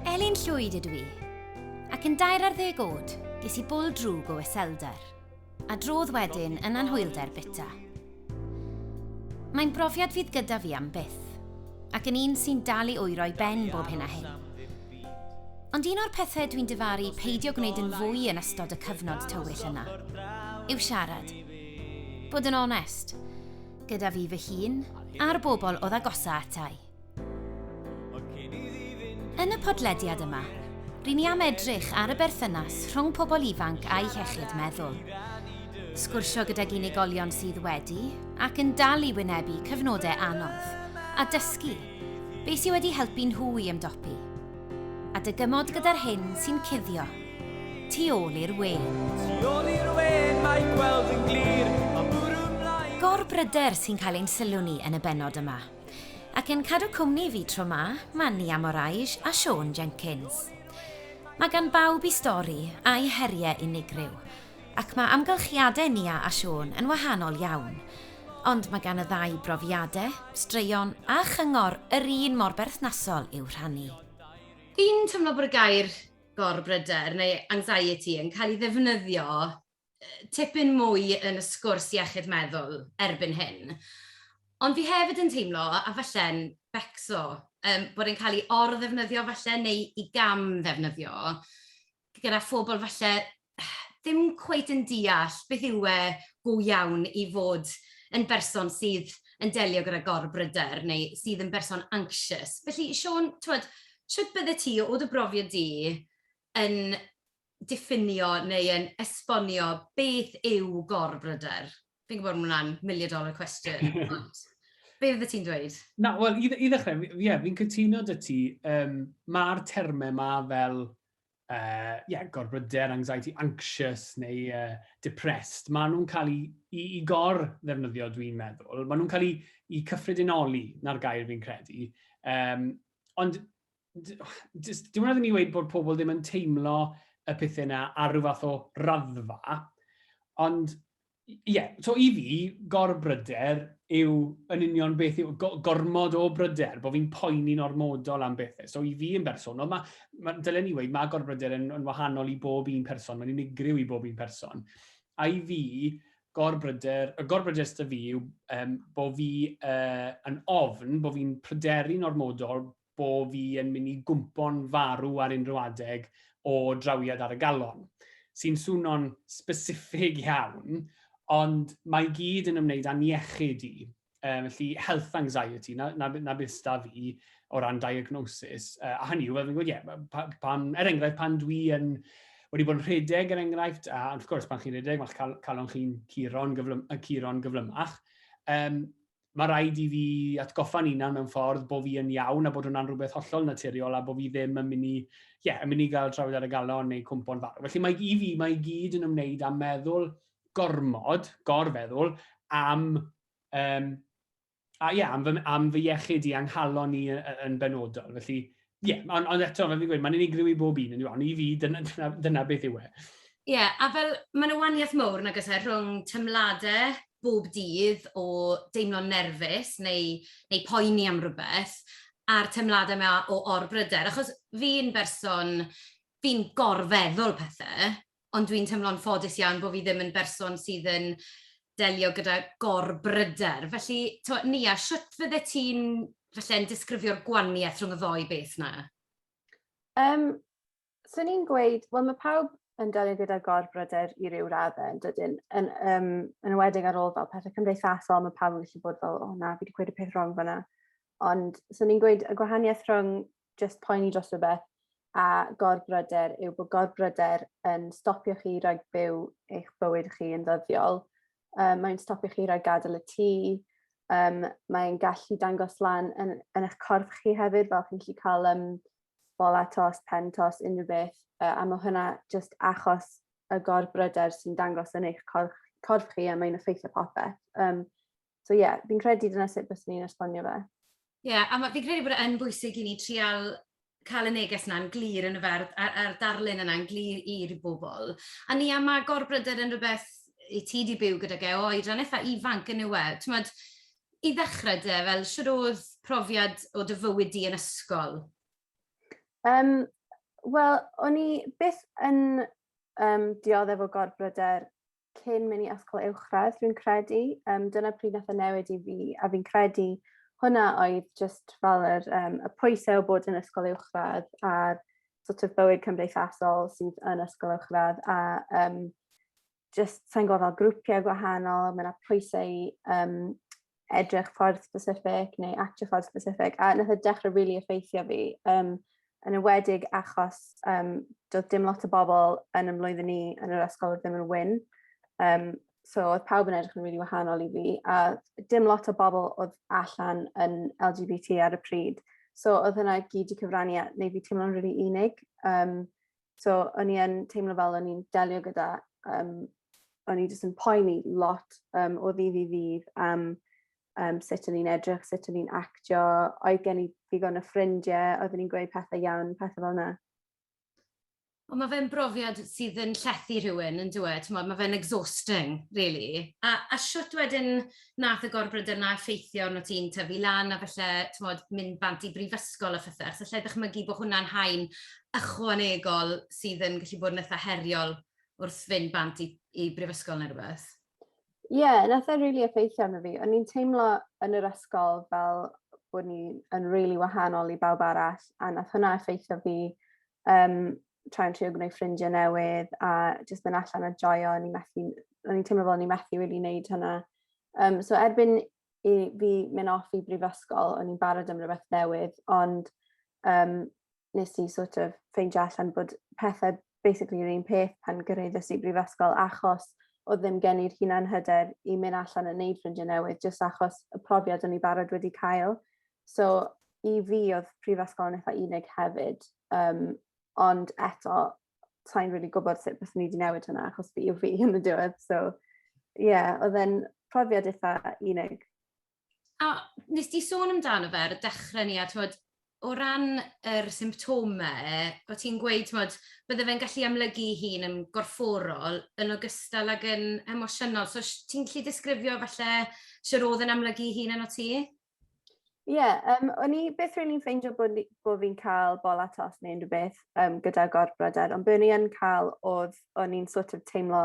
Elin Llwyd ydw i, ac yn dair ar ddeg oed, ges i bwl drwg o iselder, a drodd wedyn yn anhwylder bita. Mae'n brofiad fydd gyda fi am byth, ac yn un sy'n dal i oero'i ben bob hyn a hyn. Ond un o'r pethau dwi'n dyfaru peidio gwneud yn fwy yn ystod y cyfnod tywyll yna yw siarad. Bod yn onest, gyda fi fy hun a'r bobl oedd agosa atai. Yn y podlediad yma, rydyn ni am edrych ar y berthynas rhwng pobl ifanc a'i hechyd meddwl. Sgwrsio gydag unigolion sydd wedi ac yn dal i wynebu cyfnodau anodd a dysgu beth sydd wedi helpu nhw i ymdopi. A dy gymod gyda'r hyn sy'n cuddio. Tu ôl i'r we. Tu ôl i'r we, mae gweld yn glir, a bwrw mlaen. Gorbryder sy'n cael ein sylw ni yn y bennod yma. Ac yn cadw cwmni i fi tro ma, mae Nia Moraes a Siôn Jenkins. Mae gan bawb i stori, a'i heriau unigryw. Ac mae amgylchiadau Nia a Siôn yn wahanol iawn. Ond mae gan y ddau brofiadau, straeon a chyngor yr un mor berthnasol i'w rhannu. Fi'n teimlo bod y gair 'gorbryder' neu 'anxiety' yn cael ei ddefnyddio tipyn mwy yn y sgwrs iechyd meddwl erbyn hyn. Ond fi hefyd yn teimlo, a falle'n becso, bod e'n cael ei or-ddefnyddio falle neu ei gam-ddefnyddio. gyda phobl falle ddim cweit yn deall beth yw e go iawn i fod yn berson sydd yn delio gyda gorbryder neu sydd yn berson anxious. Felly, Siôn, twed, sut bydde ti, o dy brofiad di, yn diffinio neu yn esbonio beth yw gorbryder? Fi'n gwybod bod hwnna'n million dollar question, ond be fydde ti'n dweud? Na, wel, i, i ddechrau, ie, yeah, fi'n cytuno dy ti, um, mae'r termau yma fel uh, yeah, gorbryder, anxiety, anxious neu uh, depressed, maen nhw'n cael ei, ei, ei gor ddefnyddio, dwi'n meddwl. Maen nhw'n cael ei, ei cyffredinoli, na'r gair fi'n credu. Um, ond dim ond ni wedi bod pobl ddim yn teimlo y pethau yna ar rhyw fath o raddfa, ond ie, so i fi, gorbryder yw yn union beth yw gormod o bryder, bod fi'n poeni'n ormodol am bethau. So i fi yn bersonol, mae, ma, dylen ni wedi, mae gorbryder yn, yn wahanol i bob un person, mae'n unigryw i bob un person. A i fi, gorbryder, y gorbryder sydd fi yw um, bod fi uh, yn ofn, bod fi'n pryderu'n ormodol bo fi yn mynd i gwmpo'n farw ar unrhyw adeg o drawiad ar y galon. Sy'n swno'n specific iawn, ond mae gyd yn ymwneud â'n iechyd i. Um, felly health anxiety, na, na, na beth sta fi o ran diagnosis. Uh, a hynny yw, fel fi'n gwybod, ie, yeah, pan, er enghraifft, pan dwi yn wedi bod yn rhedeg, er enghraifft, a wrth gwrs, pan chi'n rhedeg, mae'ch cal calon chi'n curo'n gyflym, curon gyflymach. Um, mae rhaid i fi atgoffa'n unan mewn ffordd bod fi yn iawn a bod hwnna'n rhywbeth hollol naturiol a bod fi ddim yn mynd i, ie, yeah, yn mynd i gael trawiad ar y galon neu cwmpo'n farw. Felly mae i fi, mae i gyd yn ymwneud â meddwl gormod, gorfeddwl, am, um, a, yeah, am, fy, am fy iechyd i anghalon ni yn benodol. Felly, Ie, yeah, ond on eto, fel fi'n gweud, mae'n unigryw i bob un, ond i fi, dyna, dyna, dyna beth yw e. Ie, yeah, a fel, mae'n y waniaeth mowr nag ysau e, rhwng tymladau bob dydd o deimlo'n nerfus neu, neu poeni am rhywbeth, a'r teimladau yma o orbryder. Achos fi'n berson, fi'n gorfeddwl pethau, ond dwi'n teimlo'n ffodus iawn bod fi ddim yn berson sydd yn delio gyda gor-bryder. Felly, to, Nia, sut fydde ti'n falle'n disgrifio'r gwaniaeth rhwng y ddoi beth na? Um, Swn i'n gweud, wel mae pawb yn delio gyda gorbryder i ryw raddau yn dydyn. Yn, um, yn ywedig ar ôl fel pethau cymdeithasol, mae pawb yn gallu bod fel, o na, fi wedi gweud y peth wrong fyna. Ond, so ni'n gweud y gwahaniaeth rhwng jyst poeni dros rhywbeth a gorbryder yw bod gorbryder yn stopio chi rhag byw eich bywyd chi yn ddyddiol. Um, mae'n stopio chi rhag gadael y tŷ, um, mae'n gallu dangos lan yn, yn eich corff chi hefyd, fel chi'n gallu cael um, bol atos, pen tos, unrhyw beth, uh, a mae hynna jyst achos y gorbryder sy'n dangos yn eich corff, corff chi a mae'n effeithio popeth. Um, So ie, yeah, fi'n credu dyna sut bys ni'n esbonio fe. Ie, yeah, a fi'n credu bod e'n bwysig i ni trial cael y neges yna'n glir yn y ferdd, a'r, ar darlun yna'n glir i'r bobl. A ni am agor bryder yn rhywbeth i ti di byw gyda ge o oedran eitha ifanc yn yw e. Tymod, i ddechrau de, fel sydd oedd profiad o dy fywyd di yn ysgol? Um, Wel, o'n i byth yn um, dioddef o gorbryder cyn mynd i ysgol uwchradd, dwi'n credu. Um, dyna pryd nath y newid i fi, a fi'n credu hwnna oedd just fel yr, um, y pwysau o bod yn ysgol uwchradd a'r sort of bywyd cymdeithasol sydd yn ysgol uwchradd a um, just sa'n gwybod fel grwpiau gwahanol, mae yna pwysau um, edrych ffordd specific neu actio ffordd specific a nath e dechrau rili really effeithio fi um, yn ywedig achos um, doedd dim lot o bobl yn ymlwyddyn ni yn yr ysgol oedd ddim yn wyn. Um, so oedd pawb yn edrych yn rili really wahanol i fi a dim lot o bobl oedd allan yn LGBT ar y pryd. So oedd hynna gyd i cyfrannu at neu fi teimlo'n rili really unig. Um, So o'n i yn teimlo fel o'n i'n delio gyda um, o'n i jyst yn poeni lot um, o ddydd i ddydd am um, sut o'n i'n edrych, sut o'n i'n actio, oedd gen i ddigon o ffrindiau, oedd o'n i'n gweud pethau iawn, pethau fel yna. Ond mae fe'n brofiad sydd yn llethu rhywun, yn dweud, mae fe'n exhausting, really. A, a siwt wedyn, wnaeth y gorbryder 'na effeithio arnot ti'n tyfu lan a falle, timod, mynd bant i brifysgol a phethe, achos alla i ddychmygu bod hwnna'n haen ychwanegol sydd yn gallu bod yn eitha' heriol wrth fynd bant i i brifysgol neu rhywbeth? Ie, wnaeth e rili effeithio arno fi. O'n i'n teimlo yn yr ysgol fel bod ni yn rili wahanol i bawb arall a wnaeth hwnna effeithio fi um, try and trio gwneud ffrindiau newydd a jyst mynd allan a joio, o'n i'n methu, o'n i'n teimlo fel o'n i'n methu really wneud hynna. Um, so erbyn i fi mynd off i brifysgol, o'n i'n barod am rhywbeth newydd, ond um, nes i sort of ffeindio allan bod pethau basically yr un peth pan gyrraeddus i brifysgol achos oedd ddim gen i'r hunan hyder i mynd allan yn neud ffrindiau newydd, jyst achos y profiad o'n i barod wedi cael. So i fi oedd prifysgol yn eitha unig hefyd, um, ond eto, sa'n really gwybod sut beth ni wedi newid hynna, achos fi yw fi yn y diwedd. So, ie, yeah, oedd e'n profiad eitha unig. A nes di sôn amdano fe ar y dechrau ni, a twod, o ran yr symptomau, o ti'n gweud, twod, bydde fe'n gallu amlygu hun yn gorfforol yn ogystal ag yn emosiynol. So, ti'n gallu disgrifio falle sy'r oedd yn amlygu hun yn o ti? Ie yym o'n i byth rili'n ffeindio bo' ni bo' fi'n ca'l bola tost ne' unryw beth yym gyda gorbryder ond be' o'n i yn ca'l o'dd o'n i'n so't of teimlo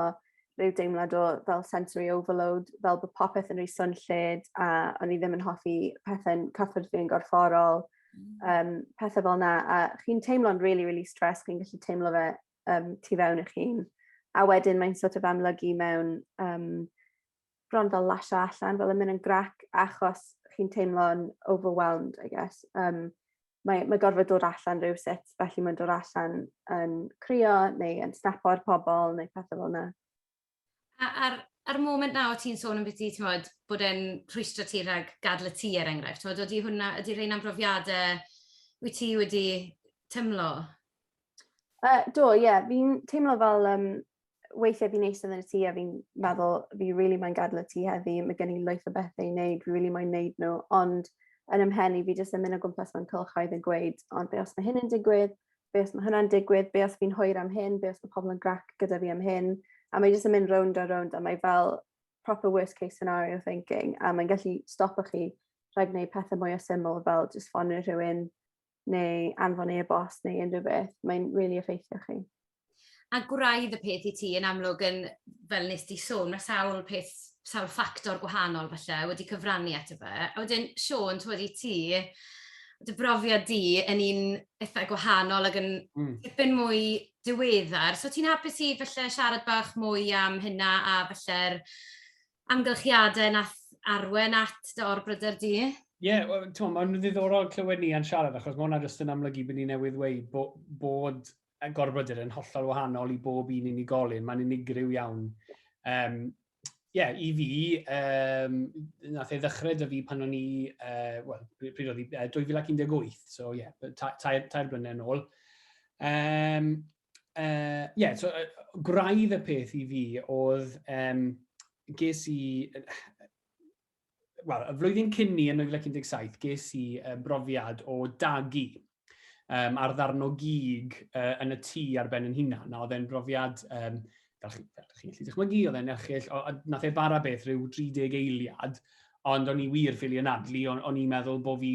ryw deimlad o fel sensory overload fel bo' popeth yn rhy swnllyd a o'n i ddim yn hoffi pethe'n cyffwrdd fi yn gorfforol yym pethe fel 'na a chi'n teimlo'n rili rili stressed chi'n gallu teimlo fe yym tu fewn i'ch hun a wedyn mae'n so't of amlygu mewn yym bron fel lasio allan fel yn myn' yn grac achos chi'n teimlo'n overwhelmed I guess yym mae mae gorfod dod allan rywsut felly ma'n dod allan yn crio neu yn snapo ar pobol neu pethe fel 'na. A a'r a'r moment 'na o' ti'n sôn ambyti t'mod bod e'n rhwystro ti rhag gadl y tŷ er enghraifft t'mod odi hwnna ydi rheina'n brofiade wyt ti wedi teimlo? Yy do ie fi'n teimlo fel yym weithiau fi'n eistedd yn y tŷ a fi'n meddwl fi rili moyn gadel y tŷ heddi ma' gen i lwyth o bethe i neud fi rili moyn neud n'w ond yn 'y mhen i fi jyst yn myn' o gwmpas mewn cylchoedd yn gweud ond be' os ma' hyn yn digwydd be' os ma' hwnna'n digwydd be' os fi'n hwyr am hyn be' os ma' pobol yn grac gyda fi am hyn a mae jyst yn mynd rownd a rownd a mae fel proper worst case scenario thinking a mae'n gallu stopo chi rhag neud pethe mwya syml fel jyst ffonio rhywun neu anfon e-bost neu unrhyw beth, mae'n rili really effeithio chi. A gwraidd y peth i ti yn amlwg yn, fel nes di sôn, mae sawl peth, sawl ffactor gwahanol falle wedi cyfrannu at y fe. A wedyn, Sean, ti'n wedi ti, dy brofiad di yn un eitha gwahanol ac yn mm. tipyn mwy diweddar. So ti'n hapus i falle siarad bach mwy am hynna a falle'r amgylchiadau nath arwen at dy or-bryder di? Ie, yeah, well, ti'n mae'n ddiddorol clywed ni yn siarad, achos mae hwnna jyst yn amlygu bod ni newydd dweud bo, bod y gorbryder yn hollol wahanol i bob un unigolyn, mae'n unigryw iawn. Um, yeah, i fi, um, nath ei ddechrau dy fi pan o'n i, uh, well, pryd oedd i, uh, 2018, so ie, yeah, tair, tair blynedd yn ôl. Um, uh, yeah, so, uh, gwraidd y peth i fi oedd, um, ges i, wel, y flwyddyn cyn ni yn 1917, ges i uh, brofiad o dagu um, ar ddarno gig uh, yn y tŷ ar ben yn hunan. Na, oedd e'n brofiad, um, fel chi'n chi gallu dychmygu, oedd e'n erchill, o, nath e bara beth rhyw 30 eiliad, ond o'n i wir ffili anadlu, o'n, o'n i'n meddwl bod fi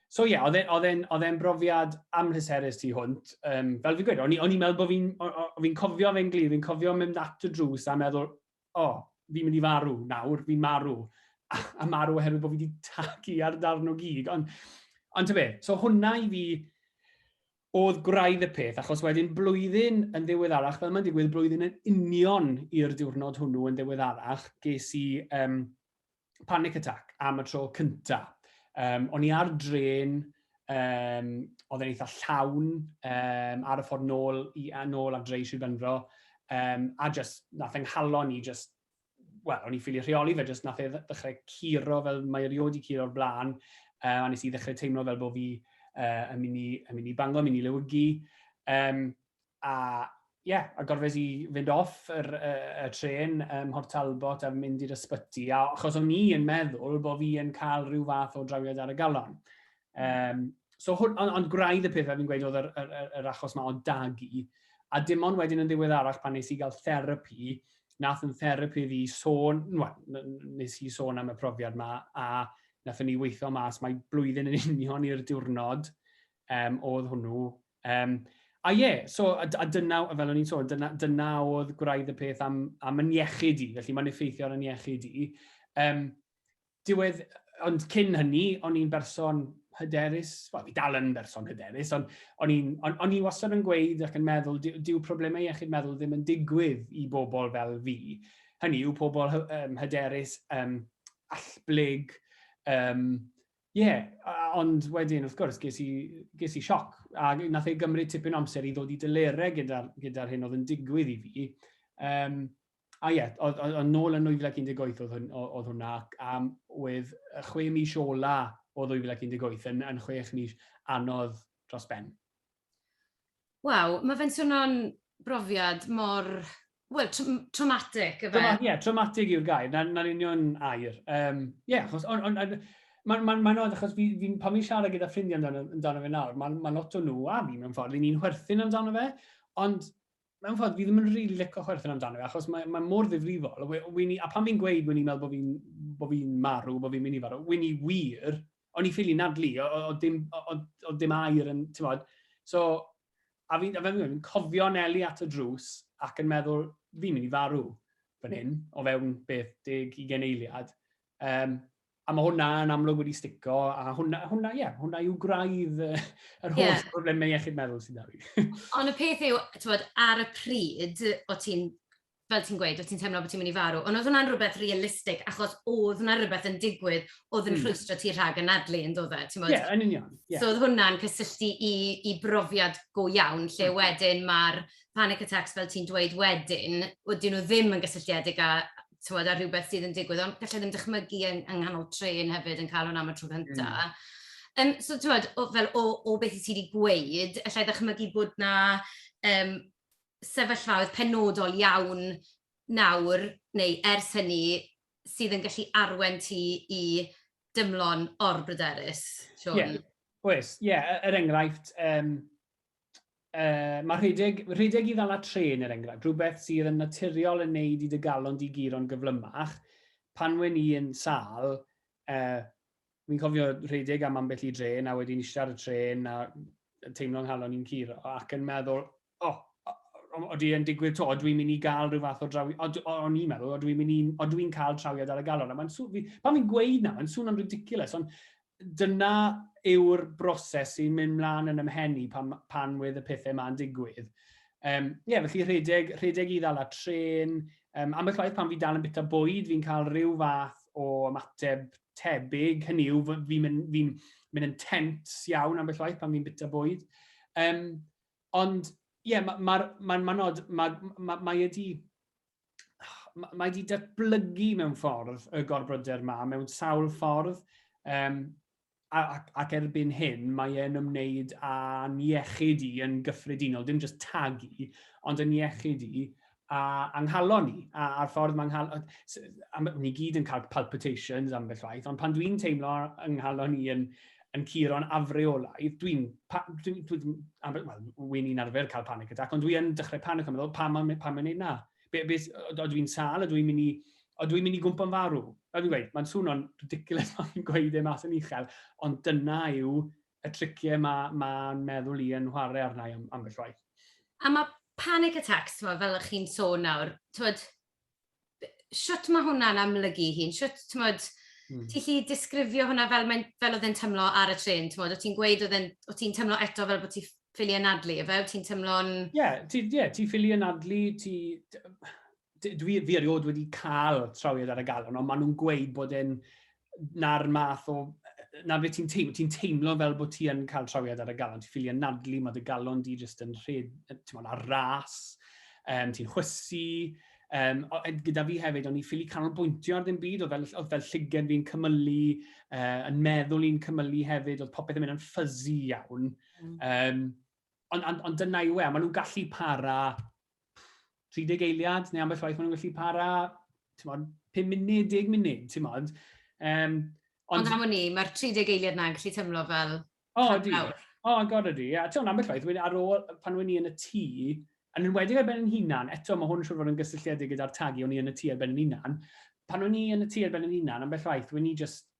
So ie, yeah, oedd e'n e, oedd e'n brofiad amhryserus tu hwnt. Um, fel fi'n gweud, o'n i'n meddwl bod fi'n fi cofio fe'n glir, fi'n cofio mynd at y drws a meddwl, o, oh, fi'n mynd i farw nawr, fi'n marw. A, a marw oherwydd bod fi wedi tagu ar darn o gig. Ond, ond be, so hwnna i fi oedd gwraidd y peth, achos wedyn blwyddyn yn ddiweddarach, fel mae'n digwydd blwyddyn yn union i'r diwrnod hwnnw yn ddiweddarach, ges i um, panic attack am y tro cynta. Um, o'n i ar dren, um, oedd e'n eitha llawn um, ar y ffordd nôl, i, nôl a dreu Sir Benfro, um, a just nath yng nghalon i just wel, o'n i'n ffili rheoli fe, jyst nath e ddechrau curo fel mae erioed i curo'r blaen, uh, a nes i ddechrau teimlo fel bod fi uh, yn mynd i, yn mynd i bango, yn mynd i lewygu. Um, A ie, yeah, a gorfes i fynd off yr, y, y tren ym Mhort Talbot a mynd i'r ysbyty, a achos o'n i yn meddwl bod fi yn cael rhyw fath o drawiad ar y galon. Um, so, hwn, ond, ond gwraidd y pethau fi'n gweud oedd yr, yr, yr, yr achos yma o dagu, a dim ond wedyn yn ddiweddarach pan nes i gael therapi, nath yn therapi fi sôn, nes i sôn am y profiad yma, a nath ni weithio mas mae blwyddyn yn union i'r diwrnod um, oedd hwnnw Um, a ie, yeah, so, a, a dyna, fel o'n i'n sôn, dyna, dyna oedd gwraidd y peth am, am yn iechyd i, felly mae'n effeithio ar yn iechyd i. Um, diwedd, ond cyn hynny, o'n i'n berson hyderus, wel, fi dal yn berson hyderus, ond o'n i'n on, on wastad yn gweud ac yn meddwl, dyw problemau iechyd meddwl ddim yn digwydd i bobl fel fi. Hynny yw pobl um, hyderus, um, allblyg, um, Ie, ond wedyn, wrth gwrs, ges i, ges i sioc, a nath ei gymryd tipyn amser i ddod i dylerau gyda'r gyda hyn oedd yn digwydd i fi. Um, a ie, oedd, oedd, oedd nôl yn 2018 oedd, hwn, oedd hwnna, ac um, oedd y chwe mis ola o 2018 yn, yn chwech mis anodd dros ben. Waw, mae fe'n swnio'n brofiad mor, wel, traumatic, efe? Ie, yeah, traumatic yw'r gair, na'n na union air. Ie, um, yeah, achos, on, on, on, mae'n ma, ma oed, achos fi, fi, pan fi'n siarad gyda ffrindiau amdano, amdano fe nawr, mae ma lot o nhw, a fi mewn ffordd, ni'n chwerthin amdano fe, ond mewn ffordd, fi ddim yn rili really licio chwerthin amdano fe, achos mae, mae mor ddifrifol. Wini, a pan fi'n gweud wini, meddwl bod fi'n bo fi marw, bod fi'n mynd i farw, wini wir, o'n i'n ffili nadlu, oedd dim, oedd dim air yn, ti'n bod. So, a fi'n fi, fi, cofio Nelly at y drws ac yn meddwl, fi'n mynd i farw fan hyn, o fewn beth deg i geneiliad. Um, a mae hwnna yn amlwg wedi stico, a hwnna, hwnna, ie, yeah, hwnna yw graidd yr holl yeah. problemau iechyd meddwl sy'n dda fi. Ond y peth yw, bod, ar y pryd, o ti'n fel ti'n gweud, wyt ti'n teimlo bod ti'n mynd i farw, ond oedd hwnna'n rhywbeth realistig, achos oedd hwnna rhywbeth yn digwydd, oedd yn mm. rhwystro ti rhag anadlu, yn dod e? Ie, yeah, yn union. Yeah. So oedd hwnna'n cysylltu i, i brofiad go iawn, lle mm. wedyn mae'r panic attacks fel ti'n dweud wedyn, wedi'n nhw ddim yn gysylltiedig â, tywed, â rhywbeth sydd yn digwydd, ond gallai ddim dychmygu yng, yng nghanol tren hefyd yn cael hwnna am y tro cyntaf. Mm. Um, so, ti'n fel o, o beth i ti wedi gweud, allai ddychmygu bod na um, sefyllfaoedd penodol iawn nawr, neu ers hynny, sydd yn gallu arwain ti i dymlo'n or-bryderus, Siôn? Ie, oes. Ie, er enghraifft, um, uh, mae rhedeg, rhedeg i ddala tren, er enghraifft, rhywbeth sydd yn naturiol yn neud i dy galon di guro'n gyflymach, pan wen i yn sal, uh, Fi'n cofio rhedeg am ambell i dre, na wedi'n eistedd ar y trên, na teimlo nghalon i'n cur, ac yn meddwl, o, oh, oeddi yn digwydd to, dwi mynd i gael rhyw fath o drawi, o'n i'n meddwl, o dwi'n mynd i, o dwi'n cael trawiad ar y galon. A mae'n sŵn, fi, pan fi'n gweud na, mae'n sŵn yn ridiculous, ond dyna yw'r broses sy'n mynd mlaen yn ymhenni pan, pan wedd y pethau ma'n digwydd. Um, ie, yeah, felly rhedeg, rhedeg i ddal a tren, um, ambell waith pan fi dal yn bita bwyd, fi'n cael rhyw fath o ymateb tebyg, hynny yw, fi'n mynd, fi mynd yn tent iawn ambell waith pan fi'n bita bwyd. Um, ond, ie, yeah, mae'n ma, ma, ma nod, mae ma, ma wedi mae wedi datblygu mewn ffordd y gorbryder yma, mewn sawl ffordd, um, ac, ac erbyn hyn mae e'n ymwneud â'n iechyd i yn gyffredinol, dim jyst tagu, ond yn iechyd i, a, a nghalon ni, a, a'r ffordd mae nghalon... Ni gyd yn cael palpitations am beth rhaid, ond pan dwi'n teimlo yng nghalon ni yn, yn curo'n afreolaidd, dwi'n... Dwi, dwi, dwi, well, wy'n ni'n arfer cael panic attack, ond dwi'n dechrau panic am meddwl, pam mae'n pa gwneud na? Be, be, o dwi'n sal, o dwi'n mynd i, o dwi'n mynd i gwmpa'n farw? A dwi'n gweud, mae'n swnio'n ridiculous mae'n gweud e mas yn uchel, ond dyna yw y tricie ma ma'n meddwl i yn nhware arna i am ambell waith. A ma panic attacks t'mod fel o'ch chi'n sôn nawr t'mod shwt ma hwnna'n amlygu 'i hun shwt t'mod hmm. ti 'llu disgrifio hwnna fel mae'n fel oedd e'n tymlo ar y trên t'mod o ti'n gweud oedd e'n o ti'n tymlo eto fel bod ti ffili anadlu efe o ti'n tymlo'n... Ie ti ie ti ffili anadlu ti dwi, fi erioed wedi cael trawiad ar y galon, ond maen nhw'n gweud bod e'n na'r math o... Na fe ti'n teimlo, ti'n teimlo fel bod ti yn cael trawiad ar y galon. Ti'n ffili anadlu, mae dy galon di jyst yn rhed, ti'n mwyn ar ras, um, ti'n chwysu. Um, o, gyda fi hefyd, o'n i ffili canolbwyntio ar ddim byd, oedd fel, oedd fel llygen fi'n cymylu, uh, yn meddwl i'n cymylu hefyd, oedd popeth yn mynd yn fuzzy iawn. Mm. Um, ond on, on dyna i we, maen nhw'n gallu para 30 eiliad, neu ambell waith maen nhw'n gallu para, ti'n modd, 5 munud, 10 munud, ti'n modd. Um, ond... ond am o'n i, mae'r 30 eiliad na'n gallu tymlo fel... O, oh, di. O, oh, god ydi. A ti'n ambell waith, wedyn ar ôl, pan o'n i yn y tŷ, yn enwedig ar ben yn hunan, eto mae hwn siwr fod yn gysylltiedig gyda'r tagu o'n i yn y tŷ ar ben yn hunan, pan o'n i yn y tŷ ar ben yn hunan, ambell waith, wedyn i just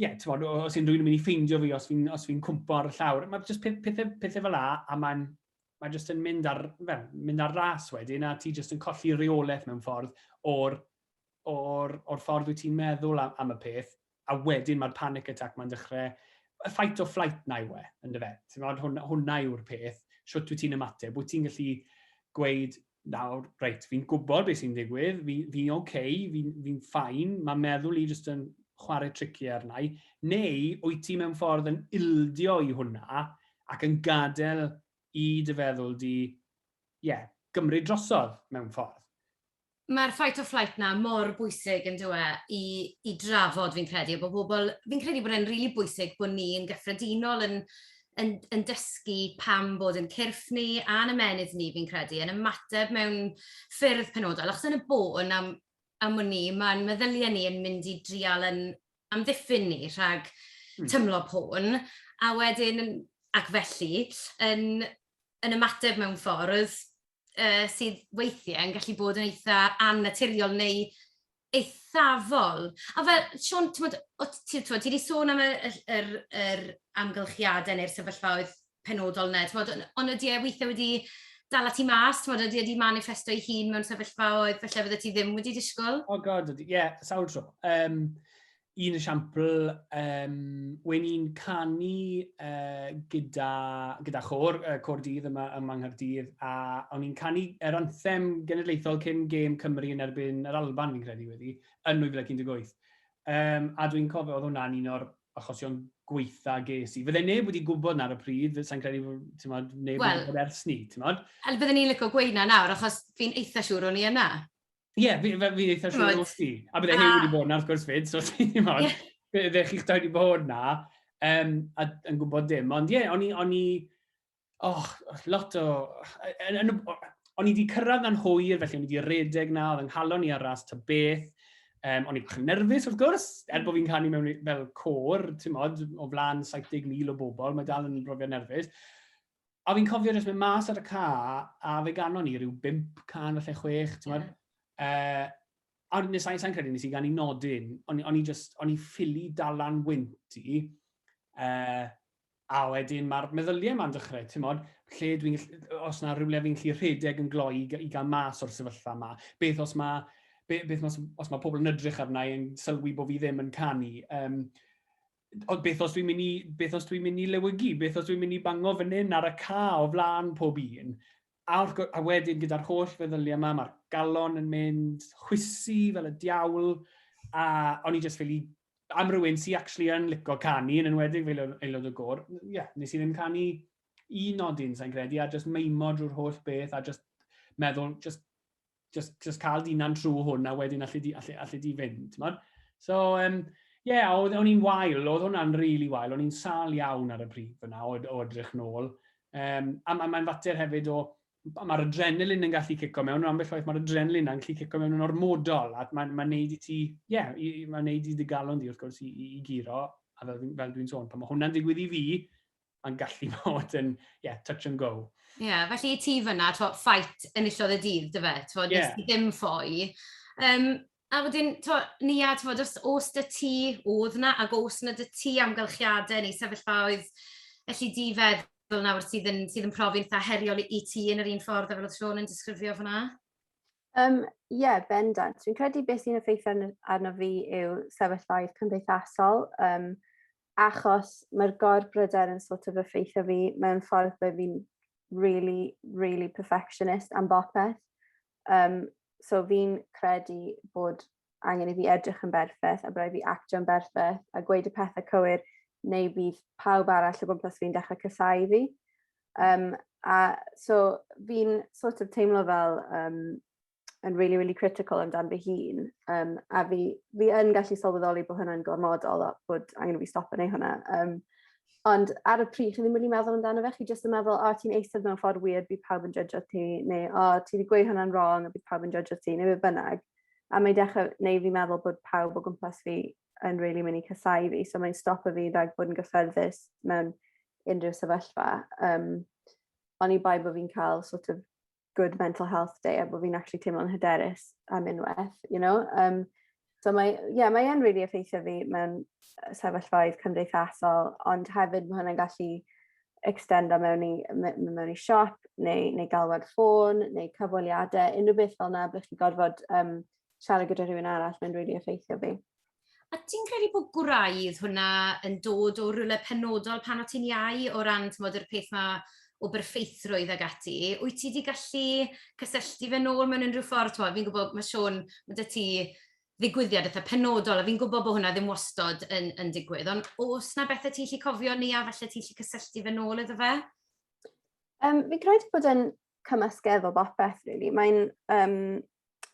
ie, ti'n bod, os unrhyw un yn mynd i ffeindio fi, os fi'n fi cwmpo ar y llawr, mae jyst pethau, pethau fel la, a mae'n mae jyst yn mynd ar, fe, mynd ar ras wedyn, a ti jyst yn colli reolaeth mewn ffordd o'r, or, or ffordd wyt ti'n meddwl am, am y peth, a wedyn mae'r panic attack mae'n dechrau, y fight or flight na yw e, yn dy fe. Ti'n bod, hwnna, hwnna yw'r peth, siwt wyt ti'n ymateb, wyt ti'n gallu gweud, nawr, reit, fi'n gwybod beth sy'n digwydd, fi'n fi oce, okay, fi'n fi ffain, mae meddwl i jyst yn chwarae trici arna i, neu wyt ti mewn ffordd yn ildio i hwnna ac yn gadael i dy feddwl di, ie, yeah, gymryd drosodd mewn ffordd. Mae'r fight or flight na mor bwysig yn dweud e, i, i drafod fi'n credu, bod pobl, fi'n credu bod e'n rili really bwysig bod ni'n gyffredinol yn yn, yn dysgu pam bod yn cyrff ni a'n ymenydd ni, fi'n credu, yn ymateb mewn ffyrdd penodol. Achos yn y bôn am, am ni, mae'n meddyliau ni yn mynd i drial yn amddiffyn ni rhag hmm. tymlo pôn, a wedyn, ac felly, yn, yn ymateb mewn ffordd uh, sydd weithiau yn gallu bod yn eitha annaturiol neu eithafol. A fel, Siôn, timod, o t- ti t'mod, ti 'di sôn am y y ll- yr yr amgylchiadau neu'r sefyllfaoedd penodol 'na, t'mod, on' on' ydi e withe wedi dala ti mas, t'mod, ydi e 'di maniffesto ei hun mewn sefyllfaoedd falle fyddet ti ddim wedi disgwl? O God, ydi, ie, sawl tro. Yym, un esiampl, um, wen i'n canu uh, gyda, gyda chor, uh, cor dydd yma ym Manghardydd, a o'n i'n canu yr er anthem genedlaethol cyn gêm Cymru yn erbyn yr Alban, fi'n credu wedi, yn 2018. Um, a dwi'n cofio, oedd hwnna'n un o'r achosion gweitha ges i. Fydde neb wedi gwybod na ar y pryd, sa'n credu bod tymod, neb well, wedi gwybod ers ni, ti'n modd? Wel, byddwn ni'n lyco gweud na nawr, achos fi'n eitha siŵr o'n i yna. Ie, yeah, fi'n fi, fi eitha siŵr o ti. A bydde Hugh wedi bod yna, wrth gwrs, fyd, so ti'n ddim ond. Bydde chi'ch dau wedi bod yna, um, a, yn gwybod dim. Ond ie, yeah, o'n i, o'n i, oh, lot o, o'n i wedi cyrraedd na'n hwyr, felly o'n i wedi redeg na, oedd yng nghalon i ar ras ta beth. Um, o'n i bach yn nerfus, wrth gwrs, er bod fi'n canu mewn fel cor, ti'n modd, o flan 70,000 o bobl, mae dal yn brofiad nerfus. A fi'n cofio jyst mynd mas ar y ca, a fe ganon ni rhyw 5 can falle 6, ti'n yeah. uh, a nes sa'n sa credu nes i gan i nodyn, o'n i just, o'n i ffili dalan wynt i, uh, a wedyn mae'r meddyliau yma'n dechrau, ti'n modd, lle dwi'n, os yna rhywle fi'n lli rhedeg yn gloi i, i gael mas o'r sefyllfa yma, beth os mae, beth, beth os, os mae pobl yn edrych arna i yn sylwi bod fi ddim yn canu, um, ond beth os dwi'n mynd i, beth os dwi'n mynd i lewygu, beth os dwi'n mynd i bango fan hyn ar y ca o flaen pob un. A, a wedyn gyda'r holl feddyliau yma, mae'r galon yn mynd chwysu fel y diawl, a o'n i jyst fel i am rywun sy'n actually yn licio canu, yn enwedig fel aelod o gor, ie, yeah, nes i ddim canu un nodyn, sa'n credu, a jyst meimo drwy'r holl beth, a jyst meddwl, jyst just, just cael dyna'n trwy hwn, a wedyn allu di, allu, allu di fynd. Mod? So, um, ie, yeah, oedd o'n i'n wael, oedd hwnna'n rili really wael, o'n i'n sal iawn ar y pryd fyna o, o edrych nôl. Um, a mae'n ma fater hefyd o, mae'r adrenalin yn gallu cico mewn, ond ambell waith mae'r adrenalin yn gallu cico mewn yn ormodol, a mae'n ma neud i ti, ie, yeah, mae'n neud i dy galon di wrth gwrs i, i, i giro, a fel, fel dwi'n sôn, pan mae hwnna'n digwydd i fi, mae'n gallu bod yn, ie, yeah, touch and go. Ie, yeah, felly i ti fyna, to, ffait enillodd y dydd, dy fe, to, yeah. nes ti ddim ffoi. Um, a wedyn, to, ni a, to, os, os dy ti oedd na, ac os na dy ti amgylchiadau neu sefyllfaoedd, felly di feddwl nawr sydd yn, sydd yn profi'n eitha heriol i ti yn yr un ffordd a fel oedd Sean yn disgrifio fyna? Ie, um, yeah, bendant. Fi'n credu beth sy'n effeithio arno fi yw sefyllfaoedd cymdeithasol. Um, achos mae'r gorbryder yn sort of effeithio fi mewn ffordd bod fi'n really, really perfectionist am bopeth. Um, so fi'n credu bod angen i fi edrych yn berffaith a bod fi actio'n berffaith a gweud y pethau cywir neu bydd pawb arall o gwmpas fi'n dechrau cysau fi. Um, a so fi'n sort of teimlo fel um, yn really really critical amdan fy hun um, a fi, fi yn gallu sylweddoli bod hwnna'n gormodol a bod angen i fi stop yn ei hwnna. Um, ond ar y pryd, chi ddim wedi meddwl amdano fe, chi jyst yn meddwl, o, oh, ti'n eistedd mewn ffordd weird, bydd pawb yn judge ti, neu, o, oh, ti wedi gweud hwnna'n wrong, a bydd pawb yn judge ti, neu fe bynnag. A mae'n dechrau neu fi meddwl bod pawb o gwmpas fi yn really mynd i casau fi, so mae'n stop o fi rhag bod yn gyffyrddus mewn unrhyw sefyllfa. Um, ond i bai bod fi'n cael sort of good mental health day a bod fi'n actually teimlo'n hyderus am unwaith, you know. Um, so mae, yeah, mae e'n really effeithio fi mewn sefyllfaoedd cymdeithasol, ond hefyd mae hwnna'n gallu extendo mewn i, mewn i siop, neu, neu galwad ffôn, neu cyfweliadau, unrhyw beth fel yna, bych chi gorfod um, siarad gyda rhywun arall, mae'n really effeithio fi. A ti'n credu bod gwraidd hwnna yn dod o rywle penodol pan o ti'n iau o ran tmod, yr peth 'ma o berffeithrwydd ac ati? Wyt ti 'di gallu cysylltu fe nôl mewn unrhyw ffordd? Tmod, fi'n gwybod, mae Siôn, ma' 'da ti ddigwyddiad eitha penodol, a fi'n gwybod bod hwnna ddim wastod yn yn digwydd, ond oes 'na bethau ti'n gallu cofio neu a falle ti'n gallu cysylltu fe nôl iddo fe? Um, fi'n credu bod e'n cymysgedd o bopeth rili. Mae'n um,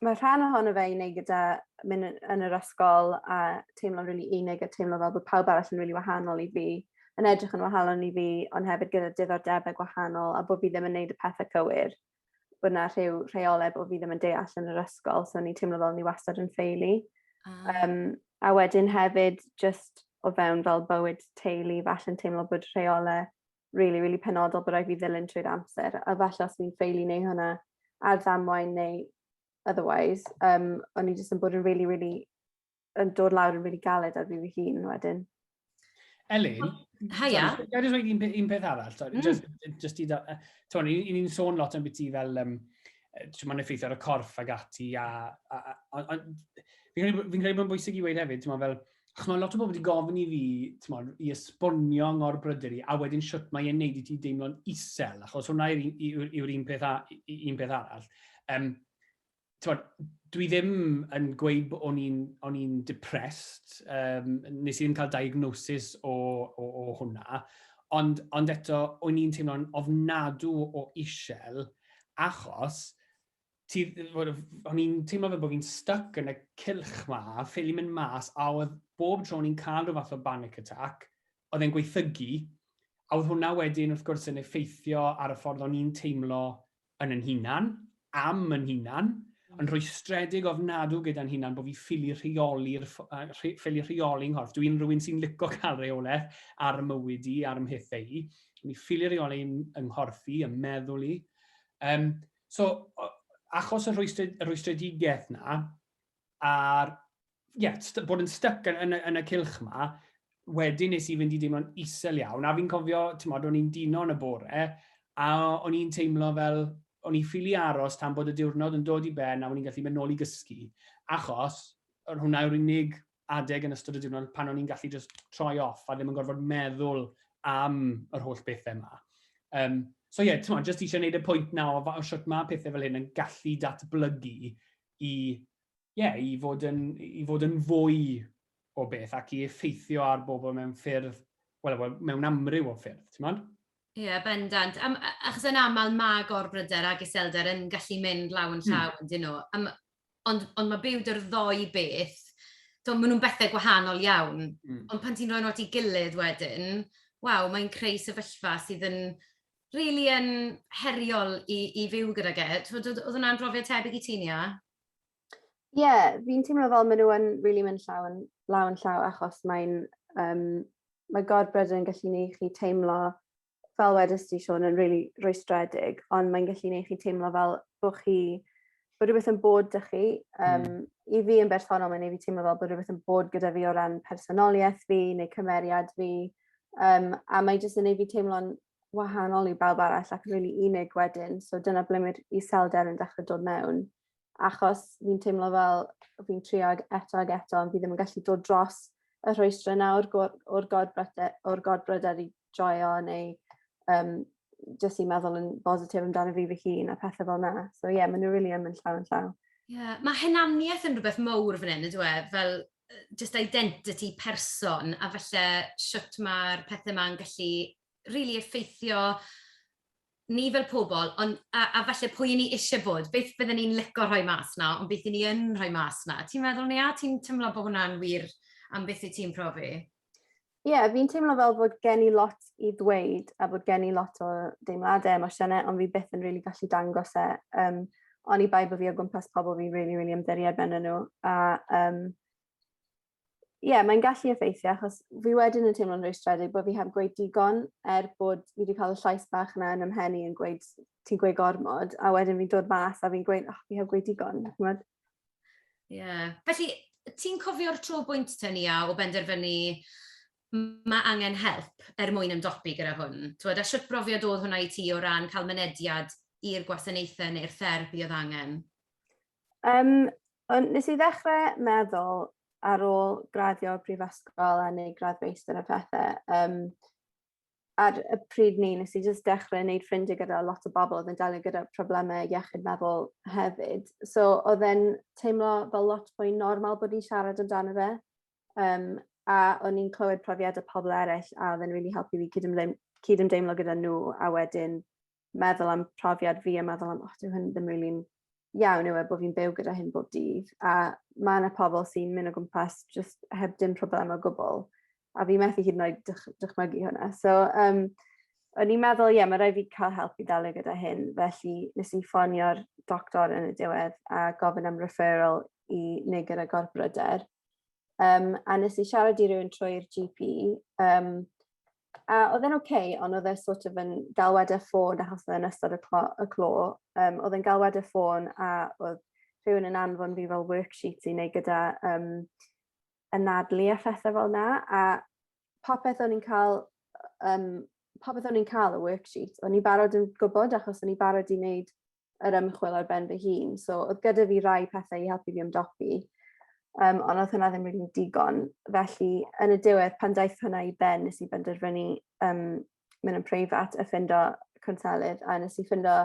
mae rhan ohono fe i wneud gyda mynd yn yr ysgol a teimlo'n rili really unig a teimlo fel bod pawb arall yn rili really wahanol i fi, yn edrych yn wahanol i fi, ond hefyd gyda diddordebau gwahanol a bod fi ddim yn gwneud y pethau cywir. Bod yna rhyw rheolau bod fi ddim yn deall yn yr ysgol, so ni'n teimlo fel ni wastad yn ffeili. Ah. Um, a wedyn hefyd, just o fewn fel bywyd teulu, falle'n teimlo bod rheolau really, really penodol bod rhaid fi ddilyn trwy'r amser. A falle os fi'n ffeili neu hwnna ar ddamwain neu otherwise, um, o'n i jyst yn bod yn really, really, yn dod lawr yn really galed ar fi fy hun wedyn. Elin, Haia. Gael just rhaid un, un peth arall, sorry, mm. just, just i, ti'n i'n un sôn lot am beth i fel, um, ti'n ma'n effeithio ar y corff ag ati, a, a, a, a, a fi'n credu bod yn bwysig i weid hefyd, ti'n fel, chymod, lot o bobl wedi gofyn i fi, chymod, i esbonio ngor bryder i, a wedyn siwt mae e'n neud i ti deimlo'n isel, achos hwnna yw'r un, yw un, peth, un peth arall. Um, chymod, dwi ddim yn gweud bod o'n i'n, on i'n depressed, um, nes i ddim cael diagnosis o, o, o hwnna, ond, ond eto, o'n i'n teimlo'n ofnadw o isel, achos ti, o'n i'n teimlo fe bod fi'n stuck yn y cilch ma, a ffili mynd mas, a oedd bob tro ni'n cael rhyw fath o panic attack, oedd e'n gweithygu, a oedd hwnna wedyn wrth gwrs yn effeithio ar y ffordd o'n i'n teimlo yn yn hunan, am yn hunan, mm. yn rhoi stredig ofnadw gyda'n hunan bod fi ffili rheoli'r ffili rheoli nghorff. Dwi'n rhywun sy'n licio cael reolaeth ar y mywyd i, ar ymhethau i. Mi ffili rheoli yng nghorff i, ym meddwl i. Um, So, achos y rhwystred, y rhwystredigaeth na, a'r yeah, bod yn stuck yn, yn, yn y cilch ma, wedyn nes i fynd i deimlo'n isel iawn, a fi'n cofio, ti'n modd, o'n i'n dino yn y bore, a o'n i'n teimlo fel, o'n i'n ffili aros tan bod y diwrnod yn dod i ben a o'n i'n gallu mynd nôl i gysgu, achos hwnna yw'r unig adeg yn ystod y diwrnod pan o'n i'n gallu just troi off a ddim yn gorfod meddwl am yr holl bethau yma. Um, so ie, yeah, ti'n just eisiau gwneud y pwynt na o, o siwt mae pethau fel hyn yn gallu datblygu i, yeah, i, fod yn, i fod yn fwy o beth ac i effeithio ar bobl mewn ffyrdd, wel, well, mewn amryw o ffyrdd, ti'n modd? Ie, yeah, bendant. Am, achos yn aml mae gorbryder a gyselder yn gallu mynd law yn hmm. llaw mm. yn dyn nhw. Am, ond, ond mae byw dy'r ddoi beth, to, maen nhw'n bethau gwahanol iawn. Mm. Ond pan ti'n rhoi nhw at ei gilydd wedyn, waw, mae'n creu sefyllfa sydd yn really yn heriol i, i fyw gyda e. Oedd hwnna'n brofiad tebyg i ti'n ia? Ie, yeah, fi'n teimlo fel maen nhw'n really mynd llaw yn, law yn llaw achos mae'n um, mae gorbryder yn gallu gwneud chi teimlo fel wedys ti Siôn yn rili rwystredig ond mae'n gallu neud chi teimlo fel bo' chi bo' rwbeth yn bod 'da chi yym... Hmm. ...i fi yn bersonol mae'n neu' fi teimlo fel bo' rwbeth yn bod gyda fi o ran personolieth fi neu cymeriad fi yym a mae jyst yn neu' fi teimlo'n wahanol i bawb arall ac yn rili unig wedyn so dyna ble ma'r iselder yn dechre dod mewn. achos fi'n teimlo fel fi'n trio ag eto ag eto ond fi ddim yn gallu dod dros y rhwystre 'na o'r gor- o'r gorbryde- o'r gorbryder i joio neu yym jyst i meddwl yn bositif amdano fi fy hun a pethe fel 'na. So ie ma' n'w rili yn mynd llaw yn llaw. Ie ma' hunaniaeth yn rwbeth mowr fan 'yn on'd yw e fel yy jyst identity person a falle shwt ma'r pethe 'ma'n gallu rili effeithio ni fel pobl, ond... a a falle pwy 'y ni isie bod, beth bydden ni'n lico rhoi mas 'na, ond beth 'yn ni yn rhoi mas 'na. Ti'n meddwl 'ny a ti'n timlo bo' hwnna'n wir am beth wyt ti'n profi? Ie, fi'n teimlo fel bod gen i lot i ddweud a bod gen i lot o deimlade, emosiyne, ond fi byth yn rili gallu dangos e, Um, oni bai bo' fi o gwmpas pobl fi'n rili rili ymddiried arnyn nhw a um, ie, yeah, mae'n gallu effeithio achos fi wedyn yn teimlo'n rwystredig bod fi heb gweud digon er bod fi wedi cael y llais bach yna yn ymhen i yn gweud ti'n gweud gormod a wedyn fi'n dod mas a fi'n gweud oh, fi heb gweud digon. Ie. Yeah. Felly, ti'n cofio'r tro bwynt ten ia o benderfynu mae angen help er mwyn ymdopi gyda hwn? Twod, a sut brofiad oedd hwnna i ti o ran cael mynediad i'r gwasanaethau neu'r therapi oedd angen? Um, Ond nes i ddechrau meddwl ar ôl graddio prifysgol a neu gradd feistr a phethe, um, ar y pryd ni, nes i jyst dechrau wneud ffrindiau gyda lot o bobl oedd yn delio gyda problemau iechyd meddwl hefyd. So oedd e'n teimlo fel lot fwy normal bod ni'n siarad amdano fe. Um, a o'n i'n clywed profiadau pobl eraill a oedd e'n really helpu fi cyd-ymdeimlo gyda nhw a wedyn meddwl am profiad fi a meddwl am, oh, dwi hyn ddim rili'n iawn yw e bod fi'n byw gyda hyn bob dydd. A mae yna pobl sy'n mynd o gwmpas just heb dim problem o gwbl. A fi methu hyd yn oed dych, dychmygu hwnna. So, um, o'n i'n meddwl, ie, yeah, mae rhaid fi cael help i ddelio gyda hyn. Felly, nes i ffonio'r doctor yn y diwedd a gofyn am referral i neu gyda gorbryder. Um, a nes i siarad i rywun trwy'r GP, um, A oedd e'n oce ond oedd e sort of yn galwad ar ffôn achos oedd e'n ystod y clo- y clo yym oedd e'n galwad ar ffôn a oedd rhywun yn anfon fi fel worksheet i neud gyda yym anadlu a phethe fel 'na a popeth o'n i'n ca'l yym popeth o'n i'n ca'l y worksheet o'n i'n barod yn gwbod achos o'n i'n barod i neud yr ymchwil ar ben fy hun. So oedd gyda fi rai pethau i helpu fi ymdopi, um, ond oedd hwnna ddim rili'n digon. Felly, yn y diwedd, pan daeth hwnna i ben, nes i benderfynu um, mynd yn preifat a ffindo conselydd, a nes i ffindo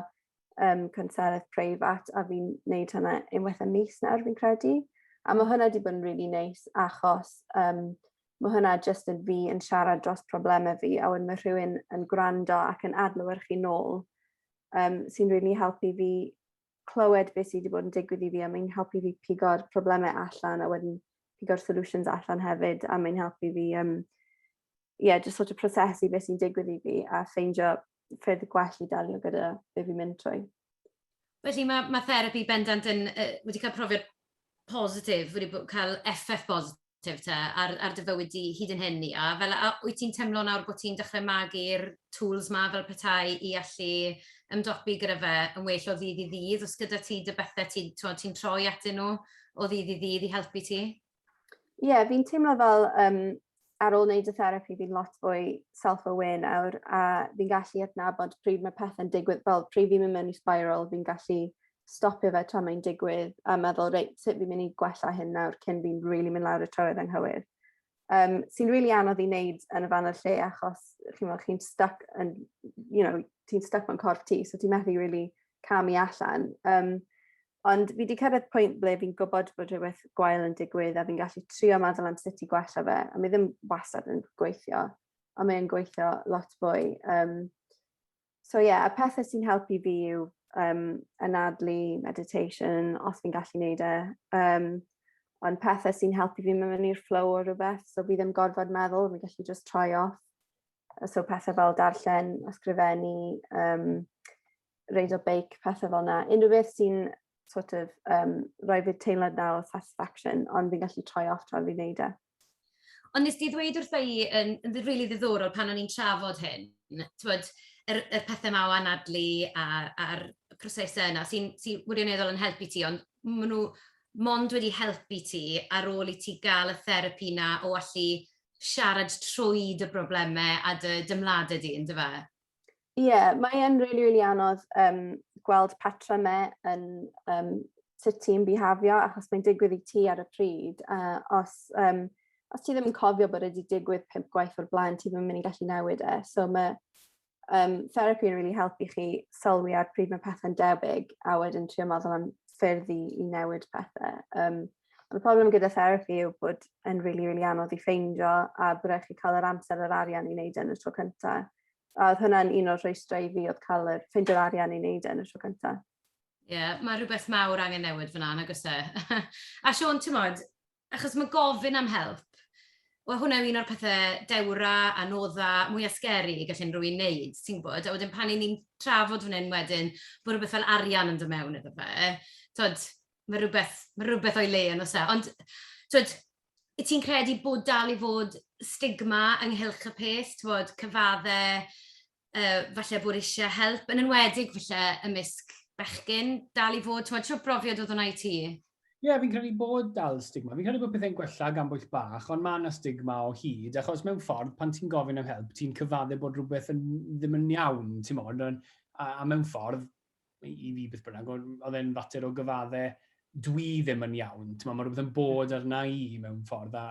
um, conselydd preifat, a fi'n neud hwnna unwaith y mis nawr, fi'n credu. A mae hwnna wedi bod yn really neis, achos um, mae hwnna jyst yn fi yn siarad dros problemau fi, a wedyn mae rhywun yn gwrando ac yn adlywyrchu nôl um, sy'n rili really helpu fi clywed beth sydd wedi bod yn digwydd i fi a mae'n helpu fi pigo'r problemau allan a wedyn pigo'r solutions allan hefyd a mae'n helpu fi um, yeah, just sort of prosesu beth sy'n digwydd i fi a ffeindio ffyrdd gwell i dalio gyda beth fi'n mynd trwy. Felly mae, mae therapi bendant yn, uh, wedi cael profiad positif, wedi cael effaith bositif positif te ar, ar dy fywyd di hyd yn hyn, Nia? Fel, a, wyt ti'n teimlo nawr bod ti'n dechrau magu'r tools ma fel petai i allu ymdopi gyda fe yn well o ddydd i ddydd? Os gyda ti dy bethau ti'n ti, ti troi atyn nhw o ddydd i ddydd i helpu ti? Ie, yeah, fi'n teimlo fel um, ar ôl wneud y therapi fi'n lot fwy self-aware nawr a fi'n gallu adnabod pryd mae pethau'n digwydd fel pryd fi'n mynd mewn i spiral fi'n gallu stopio fe tra mae'n digwydd a meddwl reit sut fi'n mynd i gwella hyn nawr cyn fi'n rili really mynd lawr y trywydd anghywir. Um, sy'n rili really anodd i wneud yn y fan o'r lle achos chi'n meddwl chi'n stuck yn, you know, ti'n stuck mewn corff ti so ti'n methu rili really camu allan. Um, Ond fi wedi cyrraedd pwynt ble fi'n gwybod bod rhywbeth gwael yn digwydd a fi'n gallu trio meddwl am sut i gwella fe, a mi ddim wastad yn gweithio, ond mae'n gweithio lot fwy. Um, so ie, yeah, y pethau sy'n helpu fi yw um, anadlu, meditation, os fi'n gallu neud e. Um, ond pethau sy'n helpu fi mewn i'r flow o rhywbeth, so fi ddim gorfod meddwl, fi'n gallu just troi off. So pethau fel darllen, ysgrifennu, um, reid o beic, pethau fel yna. Unrhyw beth sy'n sort of, um, rhoi fi teimlad na o satisfaction, ond fi'n gallu troi off tra fi'n neud e. Ond nes di ddweud wrtho i yn, yn rili really ddiddorol pan o'n i'n trafod hyn, twyd, yr, yr pethau ma o anadlu a'r prosesau yna sy'n sy wirioneddol yn helpu ti, ond maen nhw mond wedi helpu ti ar ôl i ti gael y therapi na o allu siarad trwy dy broblemau a dy dymladau di, ynddo fe? Ie, mae e'n rili, rili anodd um, gweld patrymau yn um, sut ti'n bihafio, achos mae'n digwydd i ti ar y pryd. Uh, os, um, os ti ddim yn cofio bod wedi digwydd pimp gwaith o'r blaen, ti ddim yn mynd i gallu newid e. So mae um, therapi yn rili really helpu chi sylwi ar pryd mae pethau'n debyg a wedyn trio meddwl am ffyrdd i, i newid pethau. Um, Ond y problem gyda therapi yw bod yn rili, really, rili really anodd i ffeindio a bod rhaid chi cael yr amser yr arian i wneud e yn y tro cynta. A oedd hwnna'n un o'r rhwystrau i fi oedd cael yr ffeindio'r arian i wneud e yn y tro cynta. Ie, yeah, mae rhywbeth mawr angen newid fyna, nag oes e? a Siôn, ti'n modd, achos mae gofyn am help. Wel, hwnna yw un o'r pethau dewra, anodda, mwy asgeri i gallu unrhyw un wneud, ti'n gwybod? A wedyn pan i ni'n trafod fan hyn wedyn, bod rhywbeth fel arian yn dod mewn iddo fe, tod, mae rhywbeth, mae rhywbeth o'i le yn does e? Ond tibod, wyt ti'n credu bod dal i fod stigma ynghylch y peth, tibod, cyfaddau, yy, falle bod eisiau help, yn enwedig falle ymysg bechgyn, dal i fod, tibod, siwr brofiad oedd hwnna i ti? Ie, yeah, fi'n credu bod dal stigma. Fi'n credu bod pethau'n gwella gan bwyll bach, ond mae yna stigma o hyd, achos mewn ffordd, pan ti'n gofyn am help, ti'n cyfaddu bod rhywbeth yn, ddim yn iawn, ti'n modd, a, a mewn ffordd, i fi beth bynnag, oedd e'n fater o gyfadde dwi ddim yn iawn. Mae rhywbeth yn bod arna i mewn ffordd. A,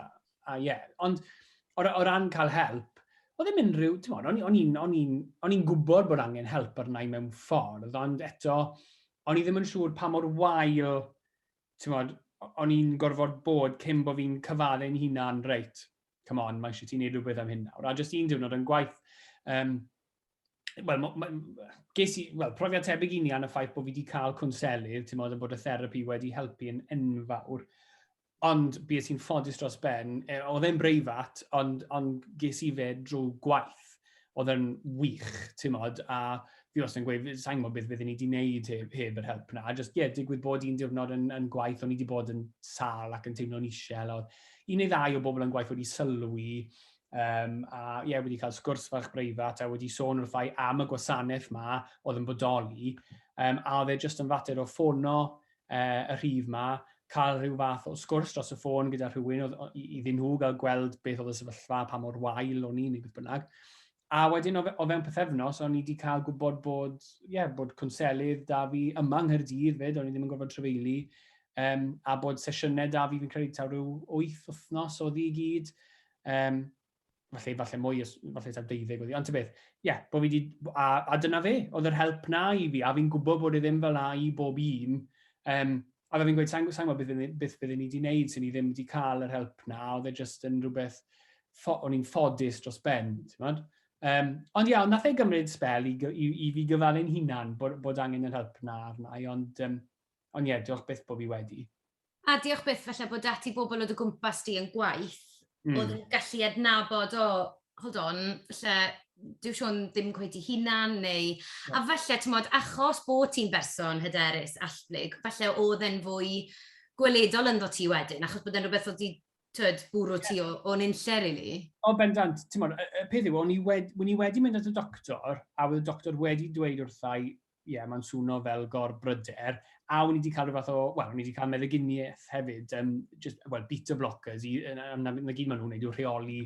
a yeah. Ond o, o ran cael help, oedd ddim unrhyw, ti'n modd, o'n i'n on i, on i gwybod bod angen help arna i mewn ffordd, ond eto, o'n i ddim yn siŵr pa mor wael, ti'n modd, o'n i'n gorfod bod cyn bod fi'n cyfaddu'n hunan, reit, come on, mae eisiau ti wneud rhywbeth am hyn nawr. A jyst un diwrnod yn gwaith, um, wel, ges i, wel, profiad tebyg i ni an y ffaith bod fi wedi cael cwnselydd, ti'n modd yn bod y therapi wedi helpu yn enfawr. Ond bys i'n ffodus dros ben, e, oedd e'n breifat, ond, ond ges i fe drwy gwaith. oedd e'n wych, timod, a fi wastad yn gweud, sa'n gwybod beth byddwn ni wedi wneud heb, heb yr help na, a just, ie, yeah, digwydd bod un diwrnod yn, yn gwaith, o'n i wedi bod yn sal ac yn teimlo'n isel, oedd un neu ddau o bobl yn gwaith wedi sylwi, um, a ie, yeah, wedi cael sgwrs fach breifat, a wedi sôn wrthau am y gwasanaeth ma oedd yn bodoli, um, a oedd e jyst yn fater o ffono, uh, y rhif yma, cael rhyw fath o sgwrs dros y ffôn gyda rhywun oedd, iddyn nhw gael gweld beth oedd y sefyllfa, pa mor wael o'n i'n ei beth bynnag. A wedyn o, fe, o fewn pethefnos, o'n i wedi cael gwybod bod, ie, yeah, bod cwnselydd da fi yma yng Nghyrdydd fyd, o'n i ddim yn gorfod trefeili, um, a bod sesiynau da fi fi'n credu taw rhyw wyth wythnos oedd i gyd. Um, falle, falle mwy, falle ta 20 oedd hi, ond ti'n beth, ie, yeah, bod fi di, a, a dyna fe, oedd yr help na i fi, a fi'n gwybod bod e ddim fel na i bob un, um, a fe fi'n gweud, sa'n gwybod beth, beth byddwn ni wedi gwneud sy'n ni ddim wedi cael yr help na, oedd e jyst yn rhywbeth, o'n i'n ffodus dros ben, ti'n bod? Um, ond iawn, nath e gymryd spel i, i, i fi gyfalu'n hunan bod, bod angen yr help na arna i, ond, um, ond ie, diolch beth bod fi wedi. A diolch byth falle bod 'da ti bobl o dy gwmpas di yn gwaith... mm. ...oedd yn gallu adnabod, o, hold on, falle dyw Siôn ddim cweit ei hunan, neu... Na. ...a falle, timod, achos bo' ti'n berson hyderus, allplyg, falle oedd e'n fwy gweledol ynddo ti wedyn, achos bod e'n rhywbeth oedd 'di, tibod, bwrw ti o o nunlle rili. O bendant, timod, y y peth yw, o'n i wed- wn i wedi mynd at y doctor, a oedd y doctor wedi dweud wrtha i, ie, mae'n swno fel gor-bryder, a o'n i wedi cael rhyw fath o, wel, o'n i wedi cael meddyginiaeth hefyd, um, just, well, beta blockers, i, na, na, na, na gyd maen nhw'n gwneud yw rheoli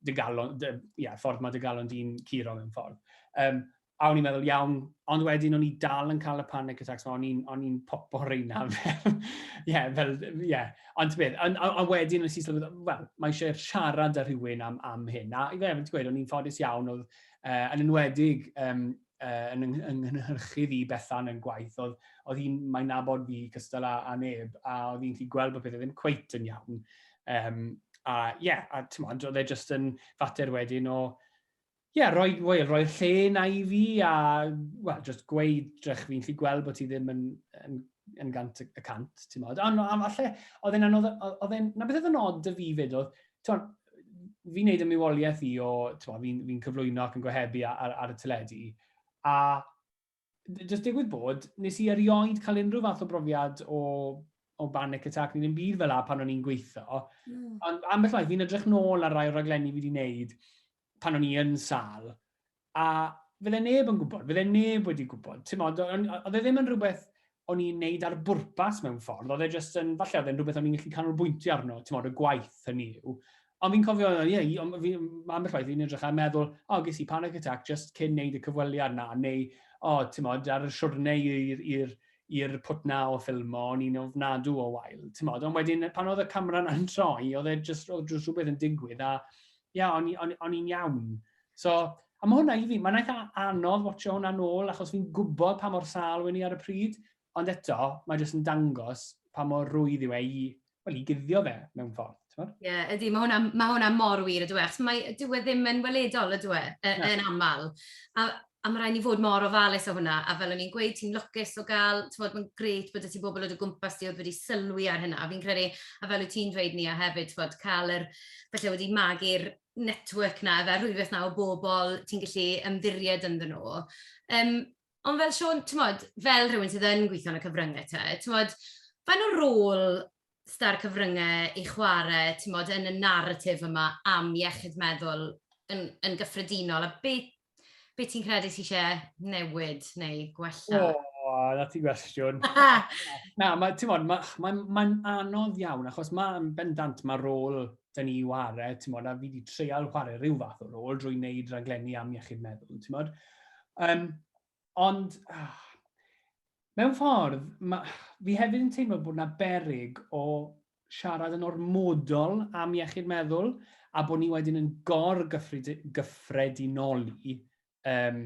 dy galon, dy, yeah, ffordd mae dy galon di'n curo mewn ffordd. Um, a o'n i'n meddwl, iawn, ond wedyn o'n i dal yn cael y panic attacks, o'n i'n popo reina fel, ie, yeah, fel, ie. Yeah. Ond beth, a, a, a wedyn o'n i'n sylweddoli, wel, mae eisiau siarad â rhywun am, am hyn, a i fe, ti'n gweud, o'n i'n ffodus iawn, oedd, uh, yn enwedig um, uh, yn, yng, yng nghynhyrchu fi Bethan yn gwaith, oedd, oedd hi'n, mae'n nabod fi cystal â, a neb, a oedd hi'n gallu gweld bod pethau ddim cweit yn iawn. Um, a ie, yeah, a ti'n modd, oedd e jyst yn fater wedyn o, ie, yeah, roi, well, roi lle na i fi a, wel, just gweud, drech fi'n gallu gweld bod ti ddim yn, yn yn gant y cant, ti'n modd. Ond falle, oedd e'n anodd, oedd e'n, na beth oedd yn odd dy fi fyd oedd, ti'n fi'n neud y miwoliaeth i o, ti'n fi'n fi cyflwyno ac yn gohebu ar, ar, y teledu, a jyst digwydd bod, nes i erioed cael unrhyw fath o brofiad o, o banic attack, neu ddim byd fel la pan o'n i'n gweithio, mm. ond ambell waith fi'n edrych nôl ar rai o raglenni fi wedi wneud, pan o'n i yn sâl, a fydde neb yn gwybod, fydde neb wedi gwybod. Timod, oedd e ddim yn rhywbeth o'n i'n neud ar bwrpas mewn ffordd, oedd e jyst yn, falle oedd e'n rhywbeth o'n i'n gallu canolbwyntio arno, ti'n modd, y gwaith hynny yw. Ond fi'n cofio, ie, yeah, ond fi, mae ambell waith fi'n edrych a meddwl, o, oh, ges i panic attack just cyn neud y cyfweliad na, neu, o, oh, ti'n modd, ar y siwrne i'r pwt na o ffilm o, o'n i'n ofnadw o wael, ti'n modd. Ond wedyn, pan oedd y camera na'n troi, oedd e jyst, oedd jyst rhywbeth yn digwydd, a Ia, o'n i, o'n, o'n i'n iawn. So, a mae hwnna i fi, mae'n eitha anodd watcho hwnna nôl, achos fi'n gwybod pa mor sal wen i ar y pryd, ond eto, mae jyst yn dangos pa mor rwydd yw e i, wel, i guddio fe mewn ffordd. Ie, yeah, ydy, mae hwnna, mae hwnna mor wir, ydw e, achos mae, dyw e ddim yn weledol, ydw e, yn aml. A A ma' raid ni fod mor ofalus o hwnna, a fel o'n i'n gweud, ti'n lwcus o gael, t'mod, ma'n grêt bod 'da ti bobl o dy gwmpas di oedd wedi sylwi ar hynna, a fi'n credu, a fel wyt ti'n dweud Nia hefyd, t'mod, cael yr, falle wedi magu'r network 'na ife, rhwydwaith 'na o bobl ti'n gallu ymddiried ynddyn nhw. Yym, ond fel Siôn, t'mod, fel rhywun sydd yn gweithio yn y cyfryngau te, t'mod, faint o rôl s'da'r cyfryngau i chwarae, t'mod, yn y naratif yma am iechyd meddwl yn yn gyffredinol, a beth, Be ti'n credu ti eisiau newid neu gwella? O, oh, na ti gwestiwn. na, mae, ti'n modd, mae'n ma, ma, ma anodd iawn, achos mae'n bendant mae rôl dyn ni i ware, ti'n modd, a fi wedi treial chwarae rhyw fath o rôl drwy wneud raglenni am iechyd meddwl, ti'n modd. Um, ond, ah, mewn ffordd, ma, fi hefyd yn teimlo bod yna berig o siarad yn ormodol am iechyd meddwl a bod ni wedyn yn gor-gyffredinoli um,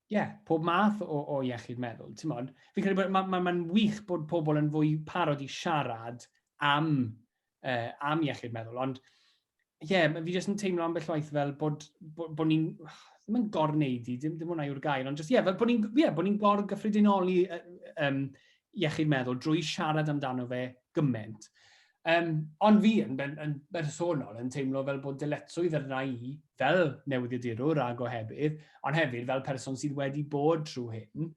yeah, pob math o, o iechyd meddwl. Ti'n modd, fi'n credu bod mae'n ma, ma wych bod pobl yn fwy parod i siarad am, uh, am iechyd meddwl, ond ie, yeah, fi jyst yn teimlo ambell waith fel bod, bod, bod ni'n, ddim yn gorneud i, ddim, ddim hwnna yw'r gair, ond jyst, ie, yeah, fel bod ni'n yeah, bod ni gor gyffredinoli um, iechyd meddwl drwy siarad amdano fe gymaint. Um, ond fi yn, yn, yn bersonol yn teimlo fel bod dyletswydd yr rai fel newyddiadurwr a gohebydd, ond hefyd fel person sydd wedi bod trwy hyn,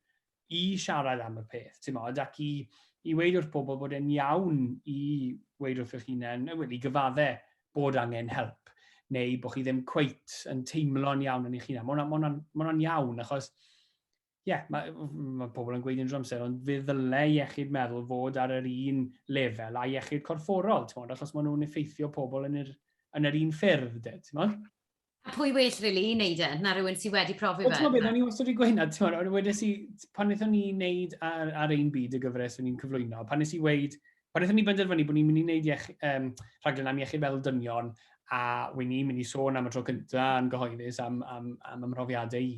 i siarad am y peth, ti'n modd, ac i, i weid wrth bobl bod e'n iawn i weid wrth eich hunain, wedi gyfadde bod angen help, neu bod chi ddim cweit yn teimlo'n iawn yn eich hunain. Mae hwnna'n ma ma iawn, achos, ie, yeah, mae ma pobl yn gweud yn drwy'r amser, ond fe ddyle iechyd meddwl fod ar yr un lefel a iechyd corfforol, ti'n modd, achos maen nhw'n effeithio pobl yn yr, yn yr un ffyrdd, ti'n modd? A pwy well really i wneud e, na rhywun sydd wedi profi fe? Wel, o'n i wastad wedi gweud hynna, ti'n ond wedyn si, pan wnaethon ni wneud ar, ar ein byd y gyfres o'n i'n cyflwyno, pan nes i weid, pan wnaethon ni benderfynu bod ni'n mynd i wneud iech, um, rhaglen am iechyd meddwl dynion, a wy'n ni'n mynd i sôn am y tro cyntaf yn gyhoeddus am, am, am, am ymrofiadau i,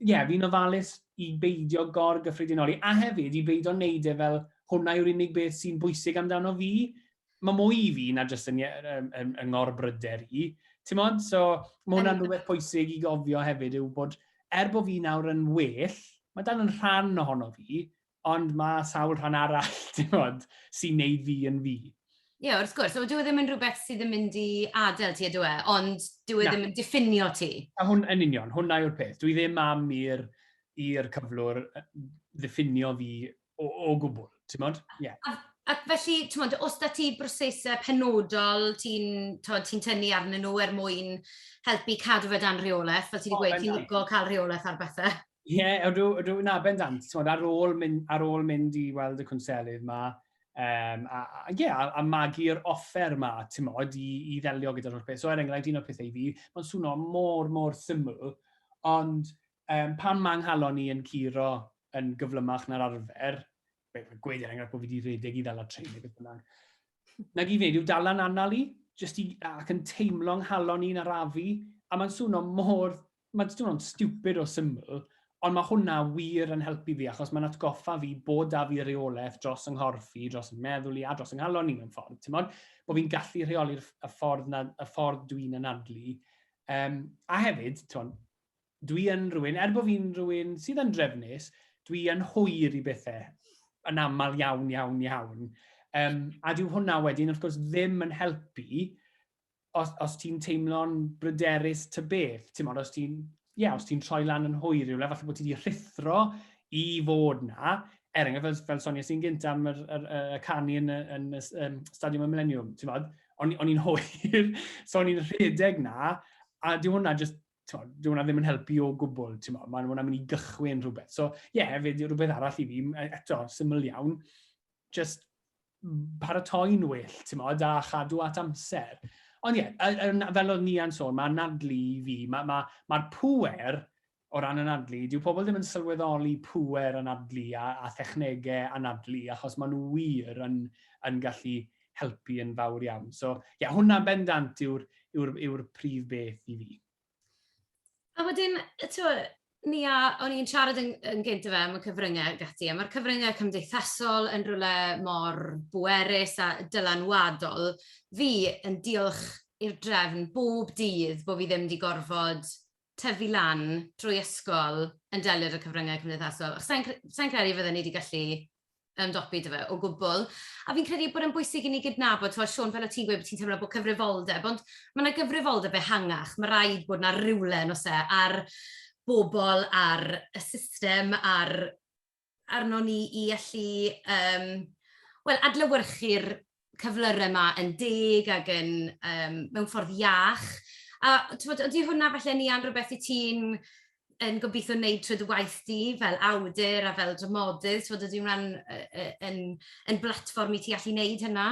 ie, fi'n ofalus i beidio gor-gyffredinoli, a hefyd i beidio wneud e fel hwnna yw'r unig beth sy'n bwysig amdano fi. Mae mwy i fi na jyst yn, yn, yn, yn ngor-bryder i. Ti'n modd? So, mae hwnna'n rhywbeth pwysig i gofio hefyd yw bod, er bod fi nawr yn well, mae dal yn rhan ohono fi, Ond mae sawl rhan arall, ti'n bod, sy'n neud fi yn fi. Ie, yeah, wrth gwrs. Ond dyw e ddim yn rhywbeth sydd yn mynd i adael ti, ydw e? Ond dyw e ddim yn diffinio ti. A hwn, yn union, hwnna yw'r peth. Dwi ddim am i'r i'r cyflwr ddiffinio fi o, o gwbl, ti'n modd? Yeah. A, a felly, ti'n modd, os da ti brosesau penodol ti'n ti tynnu arnyn nhw er mwyn helpu cadw fe dan rheolaeth, fel ti wedi gweud, ti'n licio cael rheolaeth ar bethau? Ie, yeah, ydw, ydw, na, bendant. Tmod, ar, ôl mynd, ar ôl mynd i weld y cwnselydd yma, um, a, a, yeah, a, a magu'r offer yma, tmod, i, i ddelio gyda'r holl beth. So, er enghraifft, un o'r pethau i fi, mae'n swno mor, mor syml, ond um, pan mae nghalon i yn curo yn gyflymach na'r arfer, gweud er enghraifft bod fi wedi rhedeg i ddal y trein neu beth bynnag, nag i wneud yw dal yn anal i, jyst i, ac yn teimlo nghalon i'n arafu, a mae'n swno mor Mae jyst yn teimlo'n stupid o syml, ond mae hwnna wir yn helpu fi achos mae'n atgoffa fi bod 'da fi reolaeth dros 'y nghorff i, dros 'y meddwl i a dros 'y nghalon i mewn ffordd, timod? Bod fi'n gallu rheoli'r y ffordd 'na, y ffordd dw i'n anadlu. Yym, a hefyd, timod, dw i yn rhywun, er bod fi'n rhywun sydd yn drefnus, dw i yn hwyr i bethau yn aml iawn, iawn, iawn. Um, a dyw hwnna wedyn, wrth gwrs, ddim yn helpu os, os ti'n teimlo'n bryderus ty beth, ti'n modd, os ti'n yeah, hmm. os ti'n troi lan yn hwy rhywle, falle bod ti wedi rhithro i fod na, er enghraifft fel, fel Sonia sy'n gynt am yr, yr, yr, y canu yn, yn, yn um, Stadiwm y Millennium, ti'n modd, o'n, on i'n hwyr, so o'n i'n rhedeg na, a di hwnna just, di hwnna ddim yn helpu o gwbl, ti'n modd, mae hwnna'n mynd i gychwyn rhywbeth. So, ie, yeah, hefyd, rhywbeth arall i fi, e, eto, syml iawn, just paratoi'n well, ti'n modd, a chadw at amser. Ond ie, yeah, fel oedd Nian sôn, mae anadlu i fi, mae'r ma, ma, ma pwer o ran anadlu, dyw pobl ddim yn sylweddoli pwer anadlu a, a thechnegau anadlu, achos maen nhw wir yn, yn gallu helpu yn fawr iawn. So, ie, yeah, hwnna bendant yw'r yw yw prif beth i fi. A wedyn, tywed, ni a, o'n i'n siarad yn, yn gynt fe am y cyfryngau ac ati, a mae'r cyfryngau cymdeithasol yn rhywle mor bwerus a dylanwadol. Fi yn diolch i'r drefn bob dydd bod fi ddim wedi gorfod tyfu lan drwy ysgol yn delio â cyfryngau cymdeithasol. Sa i'n sa credu fydden ni wedi gallu ymdopi 'da fe o gwbl. A fi'n credu bod e'n bwysig i ni gydnabod, ti'n Siôn, fel o ti'n gweud bod ti'n teimlo bod cyfrifoldeb, ond mae yna gyfrifoldeb ehangach, mae rhaid bod yna rywle, yn oes e, ar bobl, ar y system, ar arno ni i allu um, well, adlewyrchu'r cyflyrau yma yn deg ac yn um, mewn ffordd iach. A tywod, ydy hwnna falle ni an rhywbeth i ti'n yn gobeithio wneud trwy dy waith di fel awdur a fel dramodydd, tywod, ydy hwnna'n yn, yn blatfform i ti allu wneud hynna?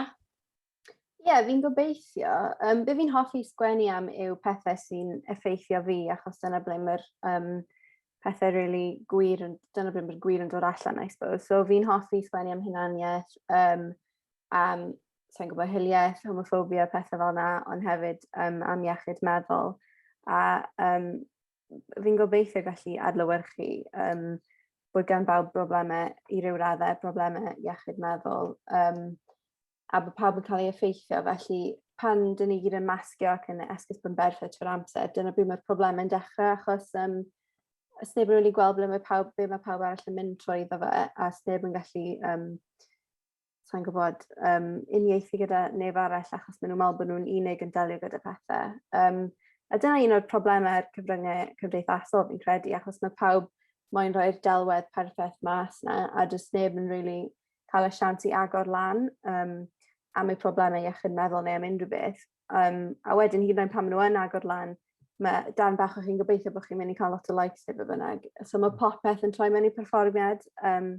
Ie, yeah, fi'n gobeithio. Um, be fi'n hoffi sgwennu am yw pethau sy'n effeithio fi, achos dyna ble mae'r um, pethau really gwir, dyna beth mae'n gwir yn dod allan, I suppose. So fi'n hoffi sgwennu am hunaniaeth, um, am, sa'n gwybod, hiliaeth, homophobia, pethau fel yna, ond hefyd um, am iechyd meddwl. A um, fi'n gobeithio gallu adlywyrchu um, bod gan bawb broblemau i ryw raddau, broblemau iechyd meddwl. Um, a bod pawb yn cael ei effeithio, felly pan dyn ni gyd yn masgio ac yn esgus yn berffaith trwy'r amser, dyna pryd mae'r problemau yn dechrau, achos um, os neb yn rili gweld ble mae pawb, be mae pawb arall yn mynd trwy iddo fe, a os neb yn gallu, um, sa'n gwybod, um, uniaethu gyda neb arall achos maen nhw'n meddwl bod nhw'n unig yn delio gyda pethau. Um, a dyna un o'r problemau ar cyfryngau cymdeithasol fi'n credu, achos mae pawb moyn rhoi'r delwedd perffaith mas na, a does neb yn rili really cael y siant i agor lan um, am eu problemau iechyd meddwl neu am unrhyw beth. Um, a wedyn hyd yn oed pan maen nhw yn agor lan, mae dan bach o chi'n gobeithio bod chi'n mynd i cael lot o likes neu beth bynnag. So mae mm. popeth yn troi mewn i perfformiad. Um,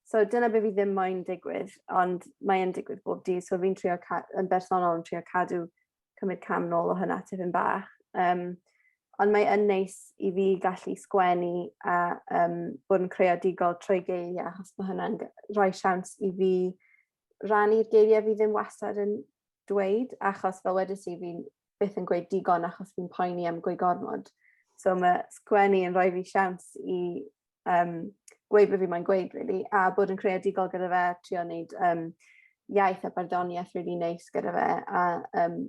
so dyna beth fi ddim moyn digwydd, ond mae'n digwydd bob dydd. So fi'n trio, yn bersonol, yn trio cadw cymryd cam nôl o hynna tipyn bach. Um, ond mae yn neis i fi gallu sgwennu a um, bod yn creadigol trwy geiriau, achos mae hynna'n rhoi siawns i fi rannu'r geiriau fi ddim wastad yn dweud, achos fel wedi ti fi'n byth yn gweud digon achos fi'n poeni am gwy gormod. So mae sgwennu yn rhoi fi siawns i um, gweud beth fi mae'n gweud, really, a bod yn creadigol gyda fe, trio wneud um, iaith a barddoniaeth really neis gyda fe, a um,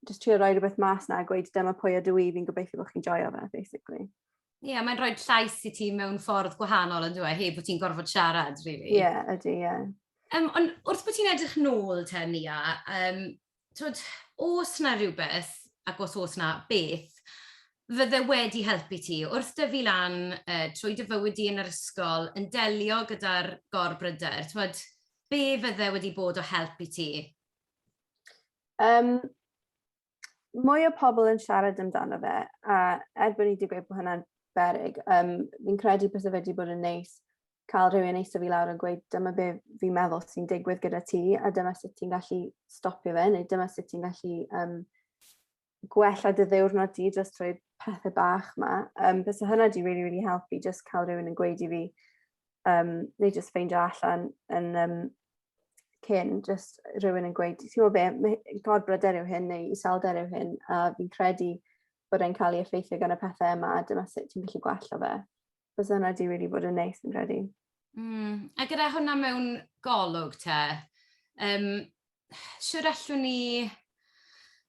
just trio rhoi rhywbeth mas na a gweud dyma pwy ydw i, fi'n gobeithio bod chi'n joio fe, basically. Ie, yeah, mae'n rhoi llais i ti mewn ffordd gwahanol yn dweud, heb bod ti'n gorfod siarad, really. Ie, yeah, ydy, ie. Yeah. Um, ond wrth bod ti'n edrych nôl te, Nia, um, Twyd, os 'na rywbeth, ac os oes 'na, beth, fydde wedi helpu ti, wrth dyfu lan, yy, trwy dy fywyd di yn yr ysgol, yn delio gyda'r gor-bryder, twyd, be fydde wedi bod o help i ti? Um, mwy o pobl yn siarad amdano fe, a er bod ni wedi gweud bod hwnna'n berig, um, fi'n credu beth wedi bod yn neis cael rhywun eistedd fi lawr a gweud dyma be fi'n meddwl sy'n digwydd gyda ti a dyma sut ti'n gallu stopio fe neu dyma sut ti'n gallu um, gwella dy ddiwrnod di jyst trwy pethau bach ma. Um, Bys hynna di really, really helpu jyst cael rhywun yn gweud i fi um, neu jyst ffeindio allan yn um, cyn jyst rhywun yn gweud ti'n gwybod be, gorbryder yw hyn neu iselder yw hyn a fi'n credu bod e'n cael ei effeithio gan y pethau yma a dyma sut ti'n gallu gwella fe. Bysa hwnna di wedi bod yn neis yn credu. Mm. A gyda hwnna mewn golwg te, um, siwr allwn ni,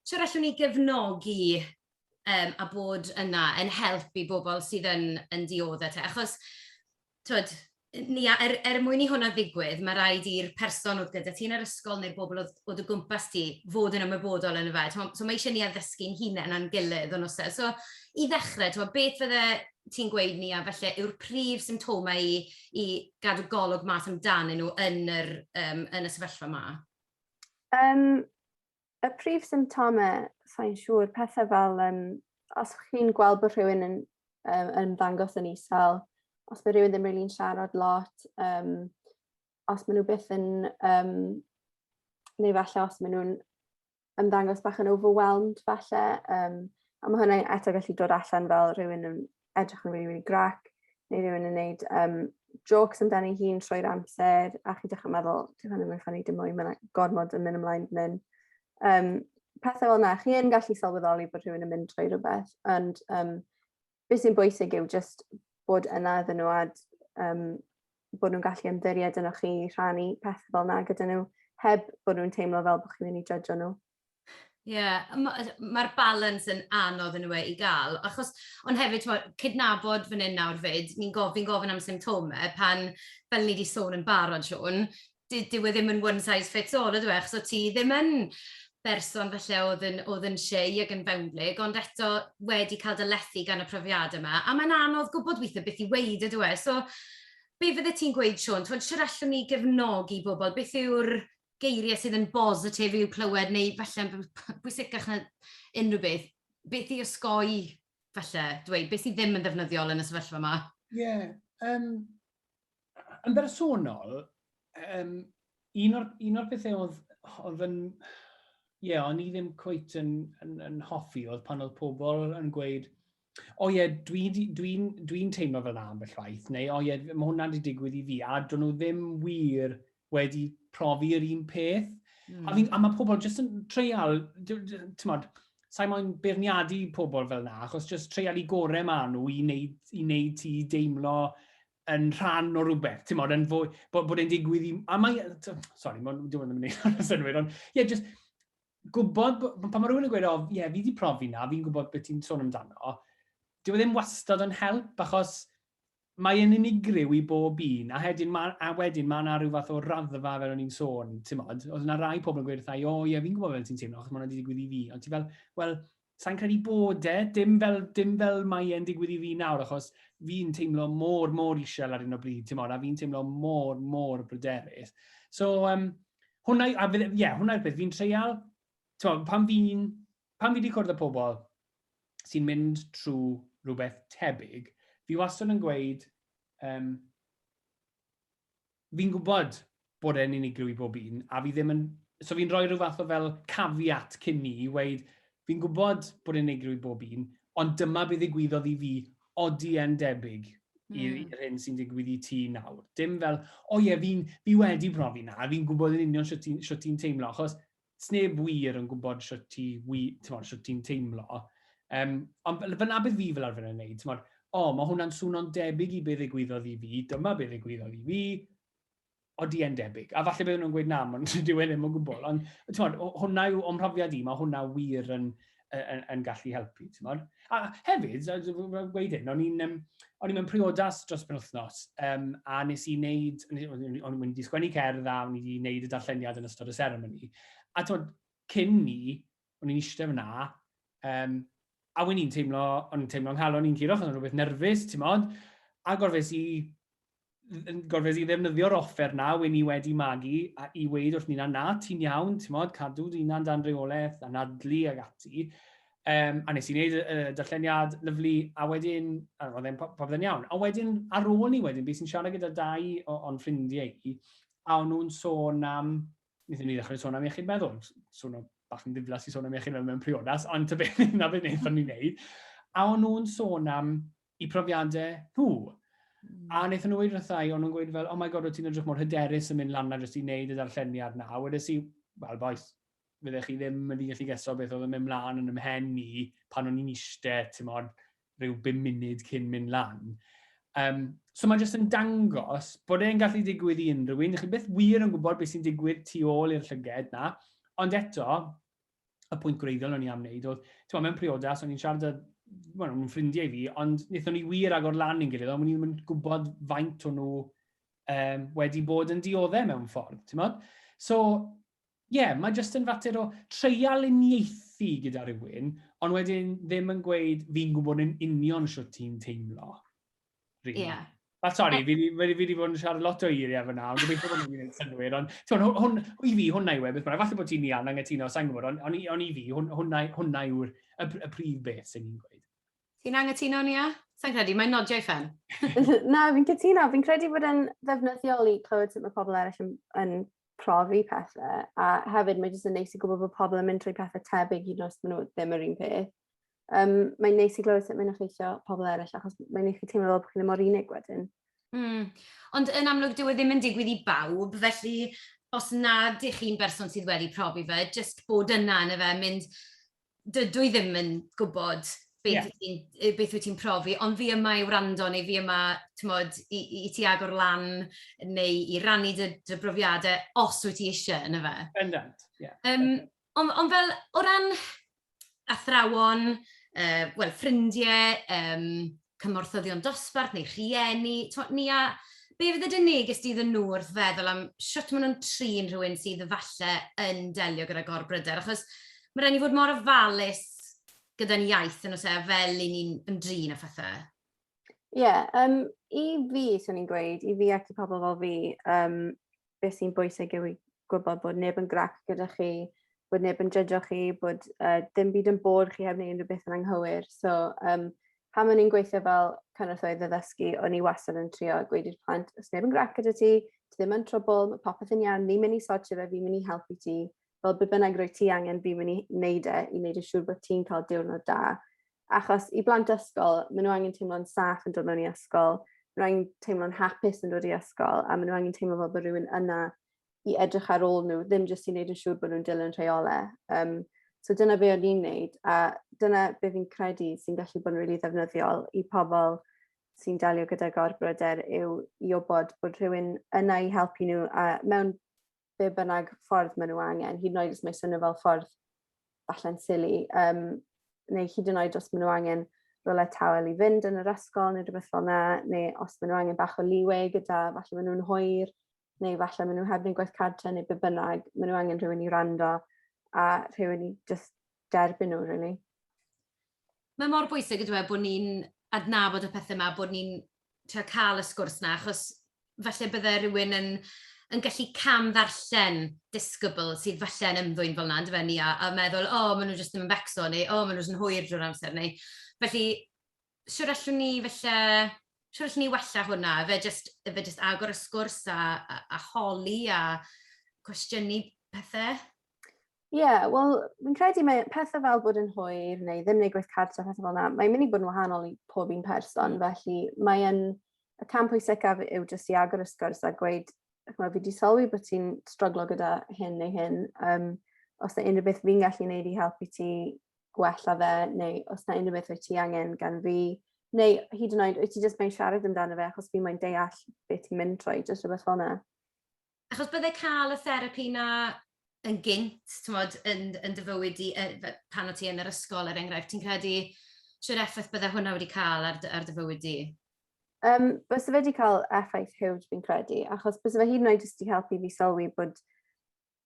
siwr allwn ni gefnogi um, a bod yna yn help i bobl sydd yn, yn dioddau te. Achos, twyd, ni, er, er mwyn i hwnna ddigwydd, mae rhaid i'r person oedd gyda ti'n yr ysgol neu'r bobl oedd, oedd y gwmpas ti fod yn ymwybodol yn y fe. So mae eisiau ni addysgu'n hunain a'n gilydd o'n osa. So i ddechrau, twyd, beth fydde ti'n gweud Nia, falle yw'r prif symptomau i i gadw golwg mas amdanyn nhw yn yr yym yn y sefyllfa 'ma? Um, y prif symptomau, sa'n siŵr, pethau fel um, os chi'n gweld bod rhywun yn, um, yn ymddangos yn isel, os mae rhywun ddim rili'n siarad lot, um, os maen nhw byth yn, um, neu falle os maen nhw'n ymddangos bach yn overwhelmed falle yym a ma' hwnna eto gallu dod allan fel rhywun yn edrych yn rili rili grac neu rhywun yn neud yym jôcs amdani hun trwy'r amser a chi dechre meddwl dyw hwn ddim yn ffyni dim mwy ma' 'na gormod yn myn' ymlaen fyn 'yn. Yym pethe fel 'na chi yn gallu sylweddoli bod rhywun yn mynd trwy rwbeth ond yym beth sy'n bwysig yw just bod yna iddyn nhw a um, bod nhw'n gallu ymddiried yno chi rhannu pethau fel yna gyda nhw heb bod nhw'n teimlo fel bod chi'n mynd i judge nhw. Ie, yeah, mae'r ma balance yn anodd yn y we i gael, achos, ond hefyd, twa, cydnabod fan hyn nawr fyd, ni'n gofyn, gofyn am symptomau pan, fel ni wedi sôn yn barod, Siôn, dy- dyw e ddim yn one size fits all ydyw e, achos o't ti ddim yn berson falle oedd yn, oedd yn shy ac yn fewnblyg, ond eto wedi cael dy lethu gan y profiad yma, a mae'n anodd gwybod weithiau beth i weud ydyw e. So, be fydde ti'n gweud, Siôn, ti'n siwr allwn ni gefnogi bobl? Beth yw'r geiriau sydd yn bositif i'w clywed, neu falle yn bwysicach na unrhyw beth, beth i osgoi, falle, dweud, beth sydd ddim yn ddefnyddiol yn y sefyllfa yma? Ie, yeah, um, yn bersonol, um, un o'r, un o'r bethau oedd, oedd yn... Ie, yeah, o'n i ddim cwyt yn, yn, yn hoffi oedd pan oedd pobl yn gweud, o ie, dwi'n dwi, dwi teimlo fel na ambell waith, neu o ie, mae hwnna wedi digwydd i fi, a dyn nhw ddim wir wedi profi'r un peth. Mm. A, fi, hmm. a mae pobl jyst yn treial, ti'n modd, sa'i moyn beirniadu pobl fel na, achos jyst treial i gorau maen nhw i wneud, i wneud ti deimlo yn rhan o rhywbeth, ti'n modd, yn fwy, bod, bod e'n digwydd i... A mae... Sorry, mae'n dwi'n mynd i wneud yn synwyr, ond ie, yeah, just gwybod, pan mae rhywun yn gweud, o, ie, yeah, fi wedi profi na, fi'n gwybod beth ti'n sôn amdano, dyw e ddim wastad yn help, achos mae yn unigryw i bob un, a, hedyn, ma, a wedyn mae yna rhyw fath o raddfa fel o'n i'n sôn, ti'n modd, oedd yna rai pobl yn gweud wrthau, o ie, fi'n gwybod fel ti'n teimlo, achos mae yna wedi digwydd i fi, ond ti fel, wel, Sa'n credu bod e, dim fel, dim fel mae e'n digwydd i fi nawr, achos fi'n teimlo mor, mor isel ar un o bryd, ti'n a fi'n teimlo mor, mor bryderus. So, um, hwnna, a ie, yeah, hwnna'r peth, fi'n treial, ti'n pan fi'n, pan fi wedi cwrdd â pobl sy'n mynd trwy rhywbeth tebyg, fi wastad yn gweud, um, fi'n gwybod bod e'n unigryw i bob un, a fi ddim yn... So fi'n rhoi rhyw fath o fel caveat cyn ni i weud, fi'n gwybod bod e'n unigryw i bob un, ond dyma be ddigwyddodd i fi, odi e'n debyg i'r mm. hyn sy'n digwydd i ti nawr. Dim fel, o ie, fi, fi wedi profi na, fi'n gwybod yn union sut ti'n teimlo, achos Sneb wir yn gwybod shwt ti wi- t'mod shwt ti'n teimlo. Yym, ond fel fel 'na bydd fi fel arfer yn neud, t'mod, o, ma' hwnna'n swno'n debyg i be' ddigwyddodd i fi, dyma be' ddigwyddodd i fi, odi e'n debyg? A falle bydden nhw'n gweud na, ma'n dyw e ddim o gwbl, ond t'mod, hwnna yw o'm mhrofiad i, ma' hwnna wir yn yn, yn gallu helpu, ti'n modd. A hefyd, rwy'n gweud hyn, o'n i'n um, o'n mewn priodas dros pen wythnos, um, a nes i wneud, o'n i'n mynd i sgwennu cerdd a o'n i wedi wneud y darlleniad yn ystod y seremoni. A ti'n cyn ni, o'n i'n eistedd fyna, um, a o'n i'n teimlo, o'n i'n teimlo nghalon i'n curo, o'n i'n rhywbeth nerfus, ti'n modd, a gorfes i yn gorfod i ddefnyddio'r offer na wy ni wedi magu a i weid wrth nina na ti'n iawn, ti'n modd, cadw dy hunan dan reolaeth, anadlu ag ati. Um, a nes i wneud y, y darlleniad lyflu, a wedyn, a roedd e'n popeth yn iawn. A wedyn, ar ôl ni wedyn, bys i'n siarad gyda dau o'n ffrindiau i, a o'n nhw'n sôn am, wnaethon ni ddechrau sôn am iechyd meddwl, sôn am bach yn ddiflas i sôn am iechyd meddwl mewn priodas, ond ta beth na beth wnaethon ni'n neud. A o'n nhw'n sôn am eu profiadau nhw. A wnaethon nhw wedi rhywbeth i, o'n nhw'n gweud fel, oh my god, wyt ti'n edrych mor hyderus yn mynd lan na jyst i wneud y darlleniad na. A wedys i, wel boes, fydde chi ddim wedi gallu geso beth oedd yn mynd mlaen yn ymhen i pan o'n i'n eistedd, ti'n modd, rhyw bum munud cyn mynd lan. Um, so mae jyst yn dangos bod e'n gallu digwydd i unrhyw un. Chi beth wir yn gwybod beth sy'n digwydd tu ôl i'r llyged na. Ond eto, y pwynt gwreiddiol o'n i am wneud oedd, ti'n mewn priodas, o'n i'n siarad â, wel, nhw'n ffrindiau fi, ond wnaethon ni wir agor lan i'n gilydd, ond o'n i'n gwybod faint o'n nhw um, wedi bod yn dioddau mewn ffordd, ti'n meddwl? So, ie, yeah, mae jyst yn fater o treial uniaethu gyda rhywun, ond wedyn ddim yn gweud fi'n gwybod yn union sut ti'n teimlo. Really. Yeah. Wel, sori, fi wedi bod yn siarad lot o eiriau fyna, ond dwi'n bod yn gwneud synwyr, ond tyw'n, hwn, i fi, hwnna yw e, beth bynnag, falle bod ti'n iawn angytuno, sa'n gwybod, ond on, on i fi, hwn, hwnna, hwnna yw'r y, y prif beth sy'n ni'n gweud. Ti'n angytuno, Nia? Sa'n credu, mae'n nodiau ffen. Na, fi'n cytuno, fi'n credu bod yn ddefnyddiol i clywed sut mae pobl eraill yn, yn profi pethau, a hefyd mae jyst yn neis i gwybod bod pobl yn mynd trwy pethau tebyg i nos maen nhw ddim yr un peth. Um, mae'n neis i glywed sut mae'n effeithio pobl eraill, achos mae'n neis i teimlo fel bod chi'n mor unig wedyn. Mm. Ond yn amlwg, dyw e ddim yn digwydd i bawb, felly os nad ych chi'n berson sydd wedi profi fe, jyst bod yna yn y fe, mynd, dydw i ddim yn gwybod beth, yeah. beth wyt ti'n profi, ond fi yma i wrando neu fi yma tmod, i, i ti agor lan neu i rannu dy, dy brofiadau os wyt ti eisiau yn y fe. Bendant, ie. Yeah. Um, ond, ond fel, o ran athrawon, uh, well, ffrindiau, um, cymorthyddion dosbarth neu rhieni, ni a be fydd y dyn neges di iddyn nhw wrth feddwl am sut maen nhw'n trin rhywun sydd falle yn delio gyda gorbryder, achos mae rhaid ni fod mor ofalus gyda'n iaith yn osa e, fel i ni'n ymdrin â phethau. Ie, yeah, um, i fi, swn i'n gweud, i fi ac i pobl fel fi, um, beth sy'n bwysig yw i gwybod bod neb yn grac gyda chi, bod neb yn jydjo chi, bod uh, dim byd yn bod chi heb wneud unrhyw beth yn anghywir. So, um, pan o'n i'n gweithio fel cynorthwyydd ddysgu, o'n i wastad yn trio gweud i'r plant, os neb yn grac gyda ti, ti ddim yn trwbl, mae popeth yn iawn, ni'n mynd i sortio fe, fi'n mynd i helpu ti. Fel be bynnag roi ti angen, fi'n mynd i wneud e, i wneud y siŵr bod ti'n cael diwrnod da. Achos i blant ysgol, maen nhw angen teimlo'n saff yn dod mewn i ysgol, maen nhw angen teimlo'n hapus yn dod i ysgol, a maen nhw angen teimlo fel bod rhywun yna i edrych ar ôl nhw, ddim jyst i wneud yn siŵr bod nhw'n dilyn rheolau. Um, so dyna be o'n i'n neud, a dyna be fi'n credu sy'n gallu bod yn rili really ddefnyddiol i pobl sy'n delio gyda gorbryder yw i obod bod rhywun yna i helpu nhw a mewn be bynnag ffordd maen nhw angen, hyd yn oed os mae swnio fel ffordd falle'n sili, um, neu hyd yn oed os maen nhw angen rolau tawel i fynd yn yr ysgol neu rhywbeth fel yna, neu os maen nhw angen bach o liwe gyda falle maen nhw'n hwyr, neu falle maen nhw heb wneud gwaith cartre neu be bynnag, maen nhw angen rhywun i rando a rhywun i just derbyn nhw, really. Mae mor bwysig yndyw e bod ni'n adnabod y pethe 'ma, bod ni'n trio cael y sgwrs 'na, achos falle bydde rhywun yn yn gallu cam-ddarllen disgybl sydd falle yn ymddwyn fel 'na yndyfe Nia, a meddwl 'o ma' nhw jyst ddim yn becso' neu 'o ma' nhw jyst yn hwyr drwy'r amser' neu felly shwd allwn ni falle, shwd allwn ni wella hwnna? Ife jyst ife jyst agor y sgwrs a a a holi a cwestiynu pethe? Ie, yeah, wel, fi'n credu mae pethau fel bod yn hwyr neu ddim neu gweith cartra, pethau fel yna, mae'n mynd i bod yn wahanol i pob un person, mm. felly mae'n y cam pwysicaf yw jyst i agor y sgwrs a gweud, chymod, fi wedi sylwi bod ti'n stroglo gyda hyn neu hyn, um, os yna unrhyw beth fi'n gallu gwneud i helpu ti gwella fe, neu os yna unrhyw beth wyt ti angen gan fi, neu hyd yn oed, wyt ti jyst mae'n siarad amdano fe achos fi mae'n deall beth ti'n mynd trwy, jyst rhywbeth fel yna. Achos bydde cael y therapi 'na yn gynt, timod, yn yn dy fywyd di yy f- pan o' ti yn yr ysgol er enghraifft, ti'n credu shwd effaith bydde hwnna wedi cael ar dy ar dy fywyd di? Yym byse fe wedi cael effaith hiwj fi'n credu, achos byse fe hyd yn oed jyst 'di helpu fi sylwi bod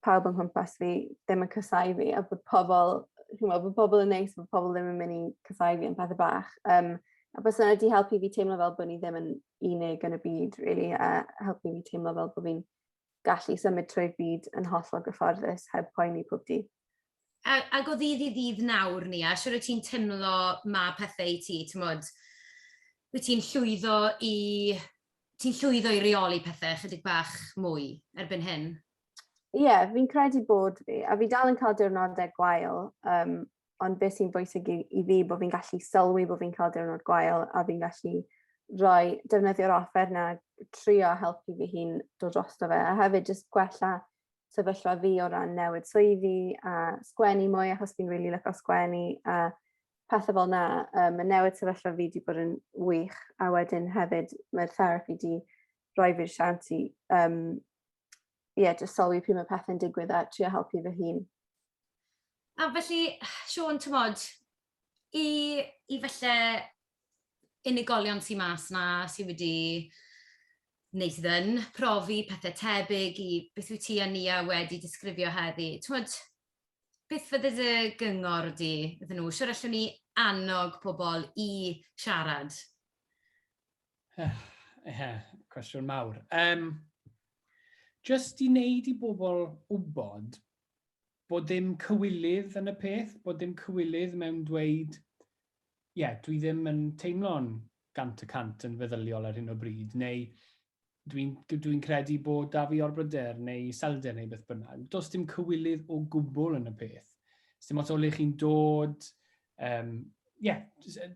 pawb yng nghwmpas fi ddim yn casáu fi a bod pobl ch'mo' bo' pobl yn neis a bo' pobl ddim yn myn' i casáu fi am pethe bach. Yym a bys yna wedi helpu fi teimlo fel bod ni ddim yn unig yn y byd, really, a helpu fi teimlo fel bod fi'n gallu symud trwy'r byd yn hollol gyfforddus heb poeni pob di. A, a go ddydd i ddydd nawr ni, a siwr o ti'n teimlo ma pethau i ti, ti'n modd, wyt ti'n llwyddo i... Ti'n llwyddo i reoli pethau chydig bach mwy erbyn hyn? Ie, yeah, fi'n credu bod fi, a fi dal yn cael diwrnodau gwael, um, ond beth sy'n bwysig i, i fi bod fi'n gallu sylwi bod fi'n cael diwrnod gwael a fi'n gallu rhoi defnyddio'r offer na trio helpu fi hi'n dod drosto fe a hefyd jyst gwella sefyllfa fi o ran newid swyddi a sgwennu mwy achos fi'n rili really lyco sgwennu a pethau fel na. Um, mae newid sefyllfa fi wedi bod yn wych a wedyn hefyd mae'r therapi wedi rhoi fi'r siawns i um, ie, yeah, just sylwi pryd mae pethau'n digwydd a trio helpu fy hun. A felly, Siôn, ti'n modd, i, i felly unigolion sy'n mas na, sy'n wedi neu sydd yn profi pethau tebyg i beth wyt ti a Nia wedi disgrifio heddi. Ti'n modd, beth fydde dy gyngor di iddyn nhw? Siwr allwn ni annog pobl i siarad Ie, cwestiwn mawr. Um, just i wneud i bobl wybod bod dim cywilydd yn y peth, bod dim cywilydd mewn dweud, ie, yeah, dwi ddim yn teimlo'n gant y cant yn feddyliol ar hyn o bryd, neu Dwi'n dwi credu bod da fi orbryder neu iselder neu beth bynnag. Does dim cywilydd o gwbl yn y peth. Dim ots o le chi'n dod, um, yeah,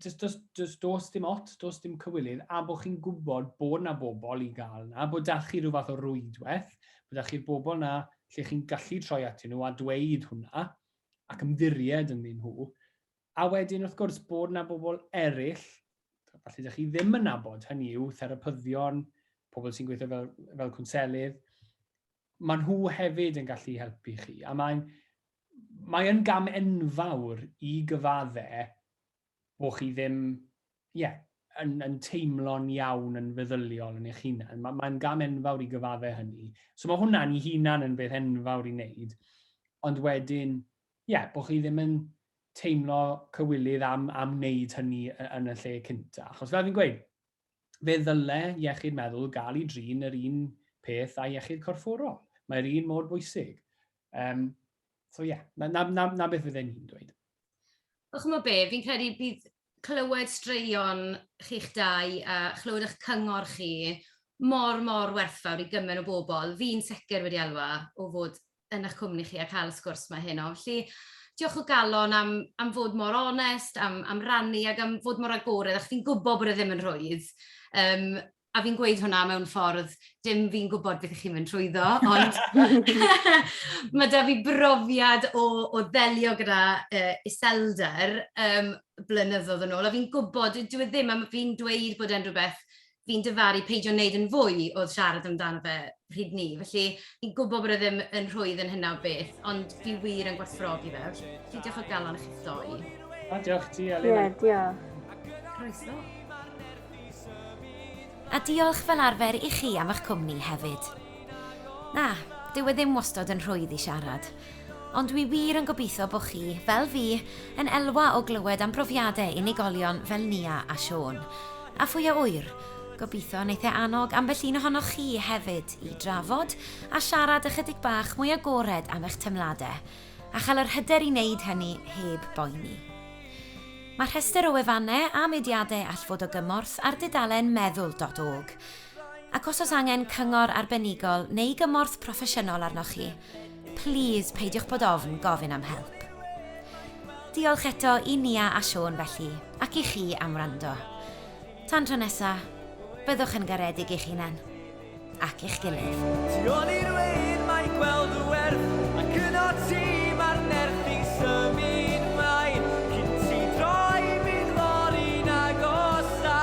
just, just, just dos dim ot, dos dim cywilydd, a bod chi'n gwybod bod na bobl i gael na, bod da chi rhyw fath o rwydwaith, bod da chi'r bobl na lle chi'n gallu troi atyn nhw a dweud hwnna, ac ymddiried ynddyn nhw, A wedyn wrth gwrs bod 'na bobl eraill, falle 'dych chi ddim yn nabod, hynny yw therapyddion, pobl sy'n gweithio fel, fel cwnselydd, mae nhw hefyd yn gallu helpu chi. A mae'n mae yn gam enfawr i gyfadde bod chi ddim, ie, yeah, yn, yn teimlo'n iawn yn feddyliol yn eich hunan. Mae'n mae gam enfawr i gyfadde hynny. So mae hwnna'n i hunan yn beth enfawr i wneud. Ond wedyn, ie, bod chi ddim yn teimlo cywilydd am, am wneud hynny yn y lle cynta. Achos fel fi'n gweud, fe ddyle iechyd meddwl gael ei drin yr un peth a iechyd corfforol. Mae'r un mor bwysig. Um, so ie, yeah, na, na, na, na beth fydden ni'n dweud. O chymod be, fi'n credu bydd clywed straeon chi'ch dau a chlywed eich cyngor chi mor, mor werthfawr i gymaint o bobl. Fi'n sicr wedi elwa o fod yn eich cwmni chi a cael y sgwrs 'ma heno. Felly, diolch o galon am am fod mor onest, am am rannu ac am fod mor agored, achos fi'n gwybod bod e ddim yn rhwydd, um, a fi'n gweud hwnna mewn ffordd, dim fi'n gwybod beth ych chi'n mynd trwyddo, ond mae da fi brofiad o, o ddelio gyda uh, iselder um, blynyddoedd yn ôl, a fi'n gwybod, dwi e ddim, a fi'n dweud bod e'n rhywbeth fi'n dyfaru peidio wneud yn fwy oedd siarad amdano fe pryd ni. Felly, fi'n gwybod bod e ddim yn rhwydd yn hynna o beth, ond fi wir yn gwerthfawrogi fe. Felly, diolch o galon i chi'ch doi. A diolch ti, Elin. Ie, diolch. Croeso. A diolch fel arfer i chi am eich cwmni hefyd. Na, dyw e ddim wastod yn rhwydd i siarad. Ond dwi wir yn gobeithio bo chi, fel fi, yn elwa o glywed am brofiade unigolion fel Nia a Siôn. A phwy a ŵyr, gobeithio neith e annog ambell un ohonoch chi hefyd i drafod a siarad ychydig bach mwy agored am eich temlade, a chael yr hyder i neud hynny heb boeni. Mae rhestr o wefanne a mudiade all fod o gymorth ar dudalen meddwl dot org. Ac os oes angen cyngor arbenigol neu gymorth proffesiynol arnoch chi, Plîs peidiwch bod ofn gofyn am help. Diolch eto i Nia a Siôn felly, ac i chi am wrando. Tan tro nesa, byddwch yn garedig i'ch hunan ac i'ch gilydd. Tu ôl i'r wein mae gweld dy werth Ac yno ti mae'r nerth i symud mlaen Cyn ti droi bydd fory'n agosáu